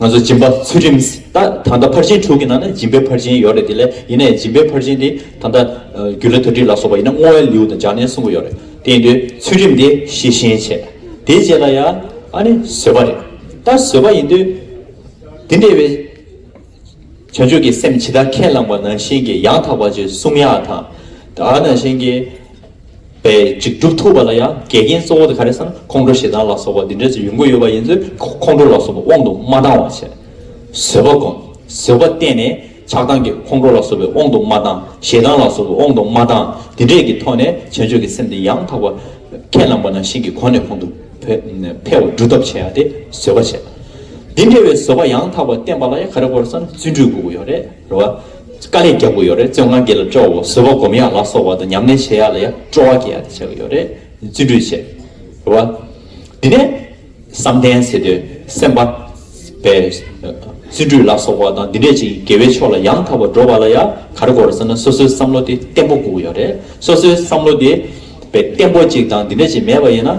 ང་ཚོ་སྦྱིན་པ་ཚུལ་ཁྲིམས་ད་ད་ལྟ་ཕར་ཕྱིན་དྲུག་གི་ནང་ན་སྦྱིན་པའི་ཕར་ཕྱིན་ཡོད་རེད་དེ་ལས་ཡིན་ནའི་སྦྱིན་པའི་ཕར་ཕྱིན་དེ་ད་ལྟ་རྒྱུད་ལ་དོན་ཁྲིད་ལ་སོགས་པ་ཡིན་ན་བསྔོ་བའི་ལེའུ་དང་སྦྱར་ནས་གསུང་གི་ཡོད་རེད་དེ་ཡིན་དུས་ཚུལ་ཁྲིམས་དེ་ཤེས་ཤེས་བྱས་དེ་རྗེས་ལ་ཡང་ཨ་ནི་བཟོད་པ་རེད་ད་བཟོད་པ་ཡིན་དུས་དེ་འདྲ་བའི་བྱང་ཆུབ་ཀྱི་སེམས་ཇི་ལྟར་ཁས་བླངས་པ་ནང་བཞིན་གྱི་ཡང་དག་པ་ཆོས་གསུམ་ཡང་དག་ད་ནང་བཞིན་གྱི། པའི་འཇིགས་སྒྲུབ་ཐུབ་པ་ལ་ཡང་འགལ་རྐྱེན་གཙོ་བོ་དེ་ག་རེ་སམ་ཁོང་ཁྲོ་ཞེ་སྡང་ལ་སོགས་པ་འདི་འདྲའི་ཚོ་ཡོང་གི་ཡོད་པ་ཡིན་ཚོད་ཁོང་ཁྲོ་ལ་སོགས་པ་དབང་དུ་མ་བཏང་བར་བྱས། བཟོད་པ་བསྒོམ། བཟོད་པ་བརྟན་ནས་ཆགས་སྡང་གི་ཁོང་ཁྲོ་ལ་སོགས་པའི་དབང་དུ་མ་བཏང་ཞེ་སྡང་ལ་སོགས་པའི་དབང་དུ་མ་བཏང་འདི་འདྲས་ཀྱི་ཐོག་ནས་བྱང་ཆུབ་ཀྱི་སེམས་དེ་ཡང་དག་པར་ཁས་བླངས་པ་ན་ཤིང་གི་གོང་ནས་གོང་དུ་འཕེལ་བར་སྒྲུབ་ཐབས་བྱས་ཡ་དེ་བཟོད་པ་བྱས། འདི་འདྲ་བའི་བཟོད་པ་ཡང་དག་པར་བསྟན་པ་ལ་ཡང་ག་རེ་དཀོར་བསམ་བརྩོན་འགྲུས་དགོས་ཀྱི་ཡོད་རེད། རེད་བ། དཀའ་ལས་རྒྱག་དགོས་ཡོད་རེད་བཙོན་ཁང་འགའི་ལ་སྤྲོ་བོ་བཟོད་པ་སྒོམ་ཡག་ལ་སོགས་བ་དང་ཉམས་ལེན་བྱེད་ཡག་ལ་ཡང་སྤྲོ་བ་སྐྱེ་ཡག་དེ་བྱེད་དགོས་ཡོད་རེད་བརྩོན་འགྲུས་ཆེ། རེད་བ། དེ་ནས་བསམ་གཏན་ཟེར་དུས་སེམས་པ། པའི། བརྩོན་འགྲུས་ལ་སོགས་བ་དང་འདི་འདྲས་ཅིག་དགེ་བའི་ཕྱོགས་ལ་ཡང་དག་པར་འགྲོ་བ་ལ་ཡང་ག་རེ་དགོས་རེད་བསམ་ན་སོ་སོའི་བསམ་བློ་དེ་བརྟན་པོ་དགོས་ཡོད་རེད་སོ་སོའི་བསམ་བློ་དེ། པའི་བརྟན་པོ་ཅིག་དང་འདི་འདྲས་ཅིག་མེད་པ་ཡིན་ན།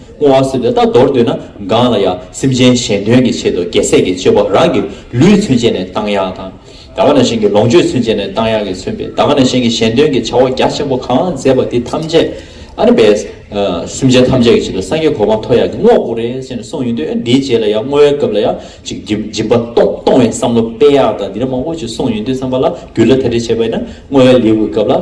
སྔོ་བ་སེར་དེ་དག་འདོར་འདོད་ན་འགངས་ལ་ཡང་སེམས་ཅན་གཞན་དོན་གྱི་ཆེད་དུ་རྒྱལ་སྲས་ཀྱི་སྤྱོད་པ་རང་གི་ལུས་མཚོན་བྱེད་ནས་བཏང་ཡག་དང། ད་ག་ན་གཞན་གྱི་ལོངས་སྤྱོད་མཚོན་བྱེད་ནས་བཏང་ཡག་གིས་མཚོན་པའི་ད་ག་ན་གཞན་གྱི་གཞན་དོན་གྱི་བྱ་བ་རྒྱ་ཆེན་པོ་གང་མཛད་པ་དེ་ཐམས་ཅད་ཨ་ནི་བས། སེམས་ཅན་ཐམས་ཅད་ཀྱི་ཆེད་དུ་སངས་རྒྱས་གོ་འཕང་ཐོབ་ཡག་གི་བསྔོ་བ་བོར་རེ་བྱས་ནས་སོང་ཡོད་འདོད་ཨེ་འདིའི་རྗེས་ལ་ཡང་བསྔོ་བའི་སྐབས་ལ་ཡང་ཅིག་སྦྱིན་པ་གཏོང་བའི་བསམ་བློ་སྤེལ་ཡག་དང་འདི་འདྲ་མང་བོ་ཅིག་སོང་ཡོད་འདོད་བསམ་པ་ལ་འགྱུར་ལ་དེ་འདྲ་བྱས་པས་ན་བསྔོ་བའི་ལེའུ་གི་སྐབས་ལ།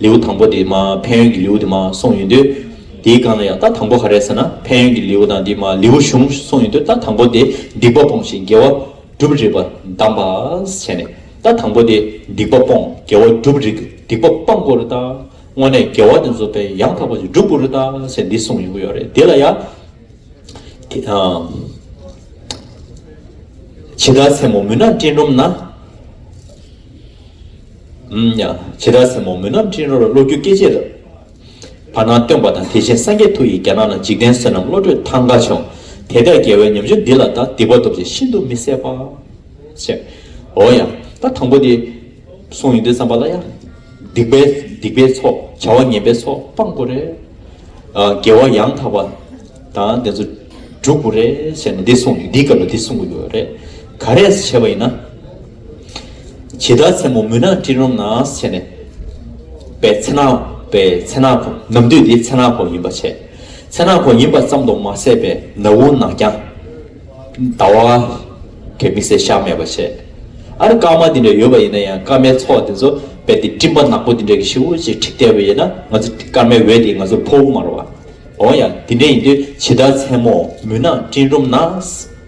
ལེའུ་དང་པོ་དེ་མ་ཕན་ཡོན་གྱི་ལེའུ་དེ་མ་གསུངས་ཡོད་དུས། དེའི་སྒང་ལ་ཡང་ད་དང་པོ་ག་རེད་ཟེར་ན་ཕན་ཡོན་གྱི་ལེའུ་དང་དེ་མ་ལེའུ་གཞུང་གསུངས་ཡོད་དུས་ད་དང་པོ་དེ་སྡིག་པ་སྤོང་ཞིང་དགེ་བ་སྒྲུབ་རིགས་པ་གདམས་པ་བྱས་ནས་ད་དང་པོ་དེ་སྡིག་པ་སྤོང་དགེ་བ་སྒྲུབ་རིགས་སྡིག་པ་སྤང་དགོས་རེད་ད། དངོས་གནས་དགེ་བ་དེ་ཚོ་དཔེ་ཡང་དག་པ་ཞིག་སྒྲུབ་དགོས་རེད་ད་ཟེར་འདི་གསུངས་ཡོང་གི་ཡོད་རེད་དེ་ལ་ཡང། ཇི་ལྟར་མཚན་མོ་མུན་ནག་སྤྲིན་རུམ་ན། བྱེ་བྲག་སེར་མོ་མུན་ནག་འཕྲེང་རོལ་གློག་འགྱུ་སྐད་ཆའི་རབ། བར་སྣང་སྟོན་པ་དང་དེ་བཞིན་སངས་རྒྱས་ཐུགས་ཡིས་རྒྱ་ནག་ན་འཇིག་རྟེན་བསོད་ནམས་བློ་གྲོས་ཐང་ག་བྱུང། དེ་ལྟའི་རྒྱལ་བའི་ཉམས་ཆུང་འདི་ལ་ད་སྡིག་པ་སྟོབས་ཅན་ཤིན་ཏུ་མི་བཟད་པ། ཅེས། འོ་ཡ། ད་དང་པོ་དེ། གསུང་ཡིན་དུས་བསམ་པ་ལ་ཡ། སྡིག་པའི། སྡིག་པའི་ཚོགས་བྱ་བ་ངན་པའི་ཚོགས་སྤང་དགོས་རེད། རྒྱལ་བ་ཡང་དག་པ། དང་དེ་ཚོ། འགྲུབ་དགོས་རེད་བྱས་ནས་འདི་གསུང་འདིའི་སྐབས་ལ་འདི་གསུང་གི་ཡོད་རེད། ག་རེས་བྱས་པ་ཡིན་ན། བྱེ་བྲག་མཚན་མོ་མུན་ནག་སྤྲིན་རུམ་ན་ཕྱེ་ནས། པའི་མཚན་ནག་པའི་མཚན་ནག་གོ། ནམ་དུས་དེའི་མཚན་ནག་གོ་ཡིན་པར་བྱས། མཚན་ནག་གོ་ཡིན་པ་ཙམ་དུ་མ་ཟད་པའི་ན་བུ་ནག་རྐྱང། ཟླ་བ། གད་མི་སེར་ཤ་མེད་པར་བྱས། ཨ་རི་སྐར་མ་དེ་འདྲ་ཡོད་པ་ཡིན་ན་ཡང་སྐར་མའི་ཚོགས་དེ་ཚོ་རྦད་དེ་སྤྲིན་པ་ནག་པོ་དེ་འདྲ་གི་ཤི་བོ་ཞིག་ཁྲིད་བསྡད་པ་ཡིན་ན་ང་ཚོ་སྐར་མའི་འོད་དེས་ང་ཚོར་ཕོག་མ་རུང་བ། འོང་ཡང་དེ་འདྲ་ཡིན་དུས་བྱེ་བྲག་མཚན་མོ་མུན་ནག་སྤྲིན་རུམ་ན།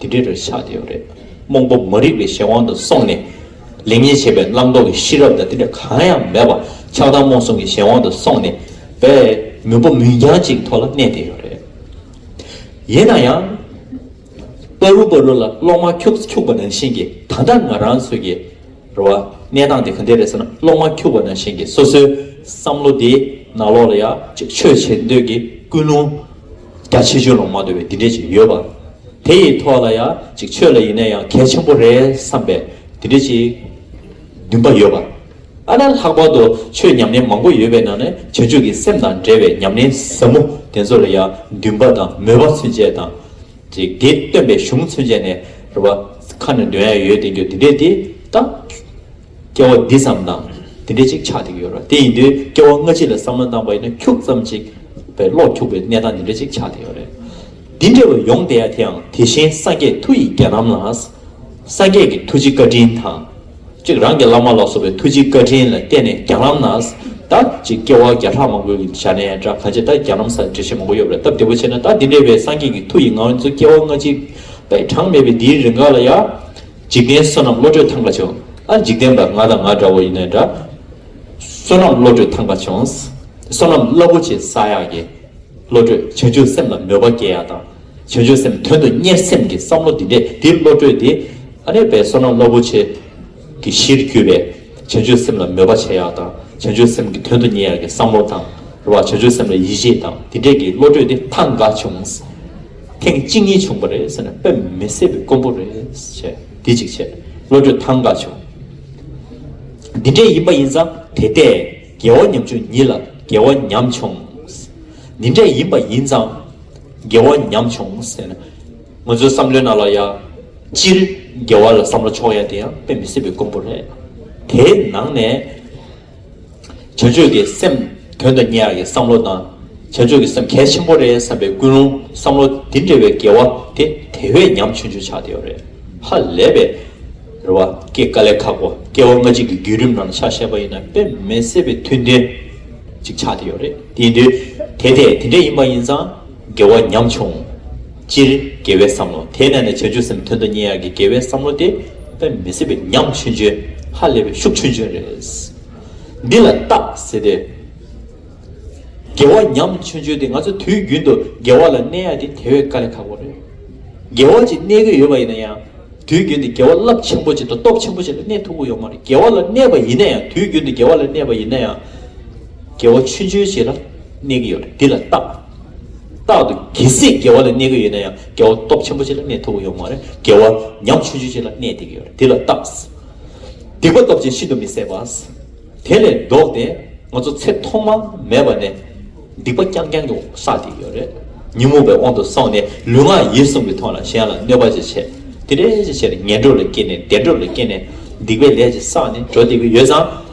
དེ་འདྲའི་རེད་ཆགས་ཀྱི་ཡོད་རེད། རྨོངས་པོ་མ་རིག་པའི་གཞན་དབང་དུ་སོང་ནས། ལེགས་ཉེས་འབྱེད་པའི་བླང་དོར་གྱི་ཤེས་རབ་དང་དེ་འདྲ་གང་ཡང་མེད་པར་ཆགས་སྡང་རྨོངས་གསུམ་གྱི་གཞན་དབང་དུ་སོང་ནས། བས། མུན་པ་མུན་རྐྱང་གཅིག་ཐོག་ལ་གནས་བསྡད་ཡོད་རེད། ཡིན་ན་ཡང། པ་རུ་པ་རུ་ལ་གློག་དམར་འཁྱུག་སུ་འཁྱུག་པ་ནང་བཞིན་གྱི་ད་ལྟ་ང་རང་ཚོའི་གི། རེད་བ། གནས་སྟངས་དེ་ག་འདྲས་རེད་ཟེར་ན་གློག་དམར་འཁྱུག་པ་ནང་བཞིན་གྱི་སོ་སོའི་བསམ་བློ་དེ་ནག་ལོག་ལ་ཡ། ཆོས་བྱེད་འདོད་ཀྱི་ཀུན་སློང། རྒྱ་ཆེ་ཆོས་ལོངས་མ་འདོད་པའི་འདི་འདྲས་ཅིག་ཡོད་པ། དེ་ཡི་ཐོག་ལ་ཡང་ཅིག་ཆོས་ལ་ཡིན་ན་ཡང་གལ་ཆེན་པོ་རེད་བསམ་པའི་འདི་འདྲས་ཅིག་འདུན་པ་ཡོད་པ། ཨ་ན་ལྷག་པར་དུ་ཆོས་ཉམས་ལེན་མང་པོ་ཡོད་པའི་ནང་ནས་བྱང་ཆུབ་ཀྱི་སེམས་དང་འབྲེལ་བའི་ཉམས་ལེན་ཟབ་མོ་དེ་ཚོ་ལ་ཡང་འདུན་པ་དང་མོས་པ་ཚུན་ཆད་དང། ཅིག་དེ་སྟོན་པའི་གཞུང་ཚུན་ཆད་ནས་རེ་བ་ཁ་ནས་འདོན་ཡ་ཡོད་དེ་འགྱོ་འདི་འདྲས་དེ་ལྟ། སྐྱེ་བ་འདི་ཙམ་དང་དེ་འདྲས་ཅིག་ཆགས་ཏེ་ཡོད་རོ། དེ་ཡིན་དུས་སྐྱེ་བ་སྔ་ཕྱི་ལ་བསམ་བློ་བཏང་བ་ཡིན་ན་ཁྱུག་ཙམ་ཅིག་པའི་བློ་ཁྱུག་པའི་གནས་སྟངས་འདི་འདྲས་ཅིག་ཆགས་ཏེ་ཡོད་རེད། འདི་འདྲས་བས་ཡོང་བསྡད་ཡ་དེའང་དེ་བཞིན་སངས་རྒྱས་མཐུ་ཡིས་རྒྱལ་རྣམས་ལ། སངས་རྒྱས་ཀྱི་ཐུགས་རྗེ་བཀའ་དྲིན་དང། ཅིག་རང་གི་བླ་མ་ལ་སོགས་པའི་ཐུགས་རྗེ་བཀའ་དྲིན་ལ་བརྟེན་ནས་རྒྱལ་རྣམས་ན་ད་ཅིག་སྐྱེ་བ་བརྒྱ་ཕྲག་མང་པོའི་བཞག་ནས་འདྲ་གང་ཅིག་ད་རྒྱལ་རྣམས་སར་འབྲེལ་བཤད་མང་པོ་ཡོད་རེད་སྟབས་བདེ་བོ་ཆེ་ན་ད་འདི་འདྲས་བས་སངས་རྒྱས་ཀྱི་མཐུ་ཡིས་ངང་ཚུལ་སྐྱེ་བ་སྔ་ཕྱི་པའི་གྲངས་མེད་པའི་འདིའི་རིང་འགའ་ལ་ཡ། འཇིག་རྟེན་བསོད་ནམས་བློ་གྲོས་ཐང་པ་བྱུང། ཨ་འཇིག་རྟེན་པ་ང་དང་ང་འདྲ་བོ་ཡིན་ནའི་འདྲ། བསོད་ནམས་བློ་གྲོས་ཐང་པ་བྱུང། བསོད་ནམས་རླབས་པོ་ཆེ་ས་ཡག་གི། བློ་གྲོས་བྱང་ཆུབ་སེམས་ལ་མོས་པ་སྐྱེ་ཡག་དང། བྱང་ཆུབ་སེམས་དོན་དུ་གཉེར་སེམས་ཀྱི་བསམ་བློ་འདི་འདྲས་འདིར་བློ་གྲོས་འདི། ཨ་ནེ་པའི་བསོད་ནམས་རླབས་པོ་ཆེ། གི་གཞིར་གྱུར་པས། བྱང་ཆུབ་སེམས་ལ་མོས་པ་བྱེད་ཡག་དང། བྱང་ཆུབ་སེམས་ཀྱི་དོན་དུ་གཉེར་ཡག་གི་བསམ་བློ་དང། རེ་བ་བྱང་ཆུབ་སེམས་ལ་ཡིད་ཆེས་དང་འདི་འདྲས་ཀྱིས་བློ་གྲོས་འདི་ཐང་འགའ་བྱུང། ཐེངས་གཅིག་གཉིས་བྱུང་བ་རེད་ཟེར་ན་དཔེ་མི་གསལ་བའི་དཀོན་པོ་རེད། བྱས། འདི་གཅིག་བྱས། བློ་གྲོས་ཐང་འགག་བྱུང། འདི་འདྲས་ཡིན་པ་ཡིན་ཙང་དེ་ལྟས། རྒྱལ་བ་ཉམ་ཆུང་ཉིད་ལ་རྒྱལ་བ་ཉམས་ཆུང། འདི་འདྲས་ཡིན་པ་ཡིན་ཙང། རྒྱལ་བ་ཉམས་ཆུང་ཟེར་ན། ང་ཚོའི་བསམ་བློའི་ནང་ལ་ཡ། སྤྱིར། རྒྱལ་བ་ལ་བསམ་བློ་ཆོག་ཡ་དེ་ཡང་དཔེ་མི་གསལ་བའི་དཀོན་པོ་རེད། དེའི་ནང་ནས། བྱ་སྤྱོད་ཀྱི་སེམས་དོན་དང་ཉེ་བ་ཡི་བསམ་བློ་དང། བྱ་སྤྱོད་ཀྱི་སེམས་གལ་ཆེན་པོ་རེད་བསམ་པའི་ཀུན་སློང་བསམ་བློ་འདི་འདྲ་བའི་འགལ་བ་དེ་དེ་བས་ཉམ་ཆུང་ཆུང་ཆགས་བསྡད་ཡོད་རེད། ཧ་ལས་པའི་རེ་བ་སྐྱེ་དཀའ་ལས་ཁག་པོ་སྐྱེ་བ་སྔ་གཅིག་གི་བརྒྱུད་རིམ་ནང་ཆགས་ཤེས་པ་ཡིན་ན་དཔེ་མེད་གསལ་བའི་མཐུན་རྐྱེན་ཅིག་ཆགས་བསྡད་ཡོད་རེད། དེ་དེ་འདྲས་ཡིན་པ་ཡིན་ཙང། དགེ་བ་ཉམས་ཆུང། སྤྱིར་དགེ་བའི་བསམ་བློ་དེ་གནས་ནས་བྱང་ཆུབ་སེམས་དོན་དུ་གཉེར་ཡག་གི་དགེ་བའི་བསམ་བློ་དེ་དཔེ་མི་སྲིད་པའི་ཉམས་ཆུང་ཆོས་ཧ་ལས་པའི་ཤུགས་ཆུང་ཆུང་རེད། འདི་ལ་རྟགས་ཟེར་ཏེ། དགེ་བ་ཉམས་ཆུང་ཆོས་དེ་ང་ཚོ་དུས་རྒྱུན་དུ་དགེ་བ་ལ་གནས་ཡག་དེ་དེ་བས་དཀའ་ལས་ཁག་པོ་རེད། དགེ་བ་ཅིག་གནས་གི་ཡོད་པ་ཡིན་ན་ཡང་དུས་རྒྱུན་དུ་དགེ་བ་རླབས་ཆེན་པོ་ཅིག་དང་སྟོབས་ཆེན་པོ་ཅིག་ལ་གནས་ཐུབ་ཀི་ཡོད་མ་རེད་དགེ་བ་ལ་གནས་པ་ཡིན་ན་ཡང་དུས་རྒྱུན་དུ་དགེ་བ་ལ་གནས་པ་ཡིན་ན་ཡང་དགེ་བ་ཆུང་ཆུང་ཞིག་ལ། གནས་ཀྱི་ཡོད། འདི་ལ་རྟག། རྟག་ཏུ་རྒྱལ་སྲས་རྒྱལ་བ་ལ་གནས་ཀྱི་ཡོད་ན་ཡང་རྒྱལ་བ་སྟོབས་ཆེན་པོ་ཅིག་ལ་གནས་ཐུབ་པ་ཡོད་མ་རེད། རྒྱལ་བ་ཉམ་ཆུང་ཆུང་ཅིག་ལ་གནས་ཏེ་ཀྱི་ཡོད་རེད། འདི་ལ་རྟག། སྡིག་པ་སྟོབས་ཆེན་ཤིན་ཏུ་མི་བཟད་པ། དེ་ལས་ལྡོག་སྟེ་ང་ཚོ་ཚེ་ཐོག་མ་མེད་པ་ནས་སྡིག་པ་རྐྱང་རྐྱང་གིས་བསགས་ཏེ་ཀྱི་ཡོད་རེད། ཉོན་མོངས་པའི་དབང་དུ་སོང་ནས་ལུས་ངག་ཡིད་གསུམ་གྱི་ཐོག་ལ་གཞན་ལ་གནོད་པ་ཅིག་བྱས། དེ་འདྲའི་ཅིག་བྱས་ནས་ངན་འགྲོ་ལ་སྐྱེས་ནས་བདེ་འགྲོ་ལ་སྐྱེས་ནས་སྡིག་པའི་ལས་ཅིག་བསགས་ནས་འགྲོ་སྡད་ཀྱི་ཡོད་ཙང།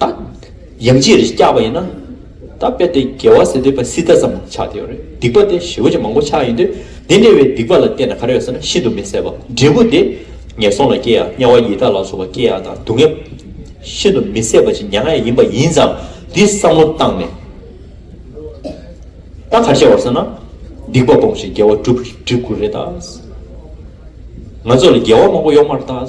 ད་ཡང་ཅིར་སྐྱག་པ་ཡིན་ན། ད་དཔེར་དེ་རྒྱལ་བ་ཟེར་དུས་པ་སི་ཏཱ་ཙམ་ཆགས་དེ་ཡོད་རེད་སྡིག་པ་དེ་ཞི་བ་ཅན་མང་པོ་ཆགས་ཡིན་དུས་དེ་འདྲ་བའི་སྡིག་པ་ལ་བརྟེན་ན་ག་རེ་ཡོད་ཟེར་ན་ཤིན་ཏུ་མི་གསལ་བ་འབྲས་བུ་དེ་ངན་སོང་ལ་སྐྱེ་ཡ་དམྱལ་བ་ཡི་དྭགས་ལ་སོགས་པ་སྐྱེ་ཡ་དང་སྡུག་བསྔལ་ཤིན་ཏུ་མི་གསལ་བ་ཅན་མྱ་ངན་ཡིན་པ་ཡིན་ཙང་འདི་བསམ་བློ་བཏང་ནས་ད་ག་རེ་བྱ་བ་ཟེར་ན་སྡིག་པ་སྤོང་ཞིང་དགེ་བ་བསྒྲུབ་དགོས་རེད་ད། ང་ཚོ་ལ་དགེ་བ་མང་པོ་ཡོག་མར་ད།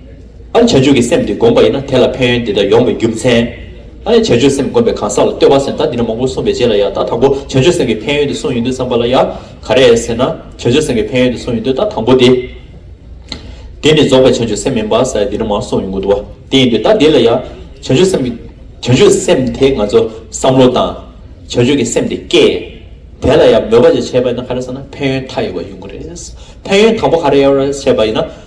ཨ་རེ་བྱ་སྤྱོད་ཀྱི་སེམས་འདི་སྒོམ་པ་ཡིན་ན་དེ་ལ་ཕན་ཡོན་འདི་འདྲ་ཡོང་བའི་རྒྱུ་མཚན། ཨ་རེ་བྱ་སྤྱོད་སེམས་སྒོམ་པའི་གང་ཟག་ལ་ལྟོས་པ་སེམས་ད་འདི་འདྲ་མང་པོ་གསུངས་པའི་རྗེས་ལ་ཡང་ད་དང་པོ་བྱ་སྤྱོད་སེམས་ཀྱི་ཕན་ཡོན་འདི་གསུངས་ཡོད་འདུག་བསམ་པ་ལ་ཡང་ག་རེ་ཟེར་ན་བྱ་སྤྱོད་སེམས་ཀྱི་ཕན་ཡོན་འདི་གསུངས་ཡོད་འདུག་ད་དང་པོ་དེ། དེ་ནི་རྫོགས་པའི་བྱ་སྤྱོད་སེམས་མིན་པར་ས་ཡ་འདི་འདྲ་མང་གསུངས་ཡོང་གི་འདུག་བ་དེ་ཡིན་དུས་ད་དེ་ལ་ཡང་བྱ་སྤྱོད་སེམས་ཀྱི་བྱ་སྤྱོད་སེམས་དེ་ང་ཚོ་བསམ་བློ་དང། བྱ་སྤྱོད་ཀྱི་སེམས་དེ་སྐྱེ། དེ་ལ་ཡང་མོས་པ་བཅས་བྱས་པ་ཡིན་ན་ག་རེ་ཟེར་ན་ཕན་ཡོན་མཐའ་ཡས་པ་ཡོང་གི་རེད། ཕན་ཡོན་དང་པོ་ག་རེ་ཡོད་རེད་བྱས་པ་ཡིན་ན།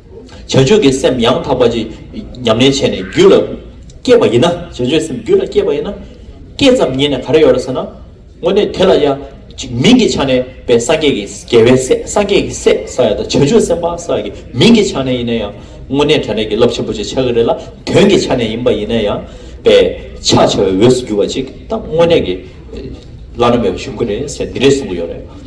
བྱ་སྤྱོད་ཀྱི་སེམས་ཡང་དག་པ་ཅིག་ཉམས་ལེན་བྱས་ནས་རྒྱུད་ལ་སྐྱེས་པ་ཡིན་ན། བྱ་སྤྱོད་སེམས་རྒྱུད་ལ་སྐྱེས་པ་ཡིན་ན། སྐྱེས་ཙམ་ཉིད་ནས་ག་རེ་ཡོད་རེད་ཟེར་ན། དངོས་གནས་དེ་ལ་ཡ། ཅིག་མིང་གི་ཆ་ནས་པའི་སངས་རྒྱས་ཀྱི་རྒྱལ་བའི་སྲས་སངས་རྒྱས་ཀྱི་སྲས་ས་ཡ་དང་བྱ་སྤྱོད་སེམས་དཔའ་ས་ཡ་ཀྱི་མིང་གི་ཆ་ནས་ཡིན་ན་ཡང། དངོས་གནས་དྲན་རེག་གི་རླབས་ཆེན་པོ་ཅིག་ཆགས་ཀྱི་རེད་ལ་དོན་གྱི་ཆ་ནས་ཡིན་པ་ཡིན་ན་ཡང། པའི་ཕྱག་བྱ་བའི་འོས་སུ་གྱུར་བ་ཅིག་དང་དངོས་གནས་ཀྱི། བླ་ན་མེད་པ་བྱུང་གི་རེད་ཟེར་འདི་རེད་གསུང་གི་ཡོད་རེད།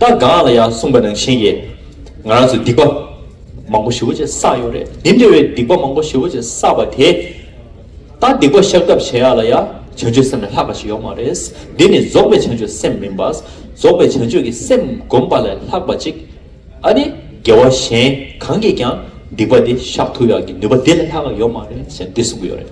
ད་གང་ལ་ཡང་གསུངས་པ་ནང་བཞིན་ཡེད། ང་རང་ཚོས་སྡིག་པ། མང་པོ་ཞི་བོ་ཅེས་བསགས་ཡོད་རེད་འདི་འདྲ་བའི་སྡིག་པ་མང་པོ་ཞི་བོ་ཅེས་བསགས་པ་དེ། ད་སྡིག་པ་བཤགས་ཐབས་བྱེད་ཡག་ལ་ཡང་བྱང་ཆུད་སེམས་ལས་ལྷག་པ་ཞིག་ཡོག་མ་རེད་འདི་ནི་རྫོགས་པའི་བྱང་ཆུད་སེམས་མིན་པ། རྫོགས་པའི་བྱང་ཆུད་ཀྱི་སེམས་སྒོམ་པ་ལས་ལྷག་པ་ཅིག་ཨ་ནི་རྒྱལ་བ་གཞན་གང་གིས་ཀྱང་སྡིག་པ་འདི་བཤགས་ཐུབ་ཡག་གི་ནུས་པ་འདི་ལས་ལྷག་ཡོག་མ་རེད་ཞེས་འདི་གསུངས་གི་ཡོད་རེད་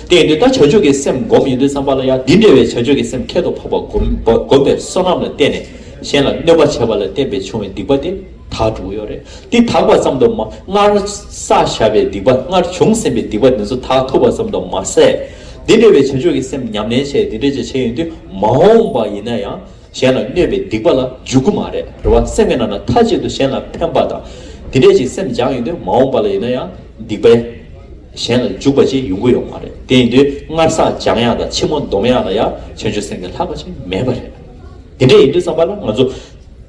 དེ་ཡིན་དུས་ད་བྱང་ཆུད་ཀྱི་སེམས་སྒོམ་ཡིན་དུས་བསམ་པ་ལ་ཡང་འདི་འདྲ་བའི་བྱང་ཆུད་ཀྱི་སེམས་ཁྱད་དུ་འཕགས་པ་སྒོམ་པའི་བསོད་ནམས་ལ་བརྟེན་ནས། གཞན་ལ་གནོད་པ་བྱས་པ་ལ་བརྟེན་པའི་བྱུང་བའི་སྡིག་པ་དེ་དག་དྲུག་ཡོད་རེད། འདི་དག་པ་ཙམ་དུ་མ་སྔར་བསགས་བཞག་པའི་སྡིག་པ་སྔར་བྱུང་ཟིན་པའི་སྡིག་པ་དེ་ཚོ་དག་ཐུབ་པ་ཙམ་དུ་མ་ཟད། འདི་འདྲ་བའི་བྱང་ཆུབ་ཀྱི་སེམས་ཉམས་ལེན་བྱས་འདི་འདྲ་བྱས་བྱས་ཡོང་དུས་མ་འོངས་པ་ཡིན་ན་ཡང་གཞན་ལ་གནོད་པའི་སྡིག་པ་ལ་འཇུག་གི་མ་རེད་རེད་བ་སེམས་ཀྱི་ནང་ན་མཐའ་གཅིག་ཏུ་གཞན་ལ་ཕན་པ་དང་འདི་འདྲ་ཞིག་སེམས་སྦྱངས་ཡོང་དུས་མ་འོངས་པ་ལ་ཡིན་ན་ཡང་སྡིག་པས་གཞན་ལ་འཇུག་པ་ཅིག་ཡོང་གི་ཡོད་མ་རེད་དེ་ཡིན་དུས་སྔར་བསགས་སྦྱངས་ཡག་དང་ཕྱི་མོ་འདོམས་ཡག་ལ་ཡང་བྱང་ཆུབ་སེམས་ཀྱི་ལྷག་པ་ཅིག་མེད་པ་རེད། དེ་འདྲའི་ཡིན་དུས་བསམ་པ་ལ་ང་ཚོ།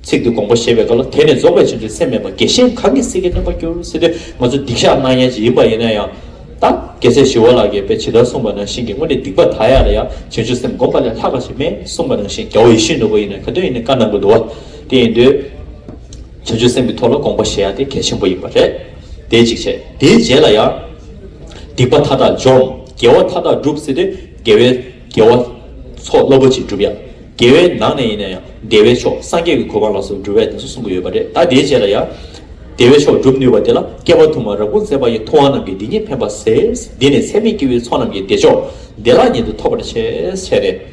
ཚིག་འདི་དགོངས་པ་བཞེས་པའི་སྐབས་ལ་དེ་ནི་རྫོགས་པའི་ཆེན་པོའི་སེམས་མེད་པར་རྒྱལ་ཞེན་གང་གིས་སྲིད་ཀྱི་སྣོན་པར་འགྱུར་སྲིད་དུས་ང་ཚོ་སྡིག་བཤགས་གནང་ཡས་ཅིག་ཡིན་པ་ཡིན་ན་ཡང། ད་རྒྱལ་སྲས་ཞི་བ་ལགས་ཀྱིས་དཔེ་ཇི་ལྟར་གསུངས་པ་ནང་བཞིན་གྱི་དངོས་གནས་སྡིག་པ་དག་ཡས་ལ་ཡང་བྱང་ཆུབ་སེམས་བསྒོམ་པ་ལས་ལྷག་པ་ཞིག་མེད་གསུངས་པ་ནང་བཞིན་རྒྱལ་བ་ཡེ་ཤུའི་ནོར་བུ་ཡིན་ན་ག་དུས་ཡིན་ནའི་བཀའ་གནང་གི་འདུག་བ་དེ་ཡིན་དུས། བྱང་ཆུབ་སེམས་ཀྱི་ཐོག་ལ་དགོངས་པ་བཞེས་ཡ་དེ་གལ་ཆེན་པོ་ཡིན་པ་རེད། དེ་གཅིག་བྱས་དེའི་རྗེས་ལ་ཡང། སྡིག་པ་མཐའ་དག་འཇོམས་རྒྱལ་བ་མཐའ་དག་འགྲུབ་སྲིད་དུས་རྒྱལ་བའི། རྒྱལ་བ། མཆོག་བློ་པོ་ཆེའི་སྒྲུབ་ཡག། རྒྱལ་བའི་ནང་ནས་ཡིན་ན་ཡང་བདེ་བའི་མཆོག་སངས་རྒྱས་ཀྱི་གོ་འཕང་ལ་སོགས་སྒྲུབ་བས་གདན་སོ་གསུམ་གྱི་ཡོད་པ་རེད་ད་དེའི་རྗེས་ལ་ཡང། བདེ་བའི་མཆོག་སྒྲུབ་ནུས་པ་དེ་ལ་བསྐལ་པ་དུ་མར་རབ་གུང་ཚེ་དཔག་ཡས་ཐུབ་དབང་རྣམས་ཀྱིས་འདི་ཉིད་ཕན་པར་ཟེར། འདི་ནི་ཚད་མེད་སྐྱེ་བོའི་ཚོགས་རྣམས་ཀྱི་བདེ་མཆོག། བདེ་བླག་ཉིད་དུ་ཐོབ་པར་ཆེས་བྱས་ཏེ།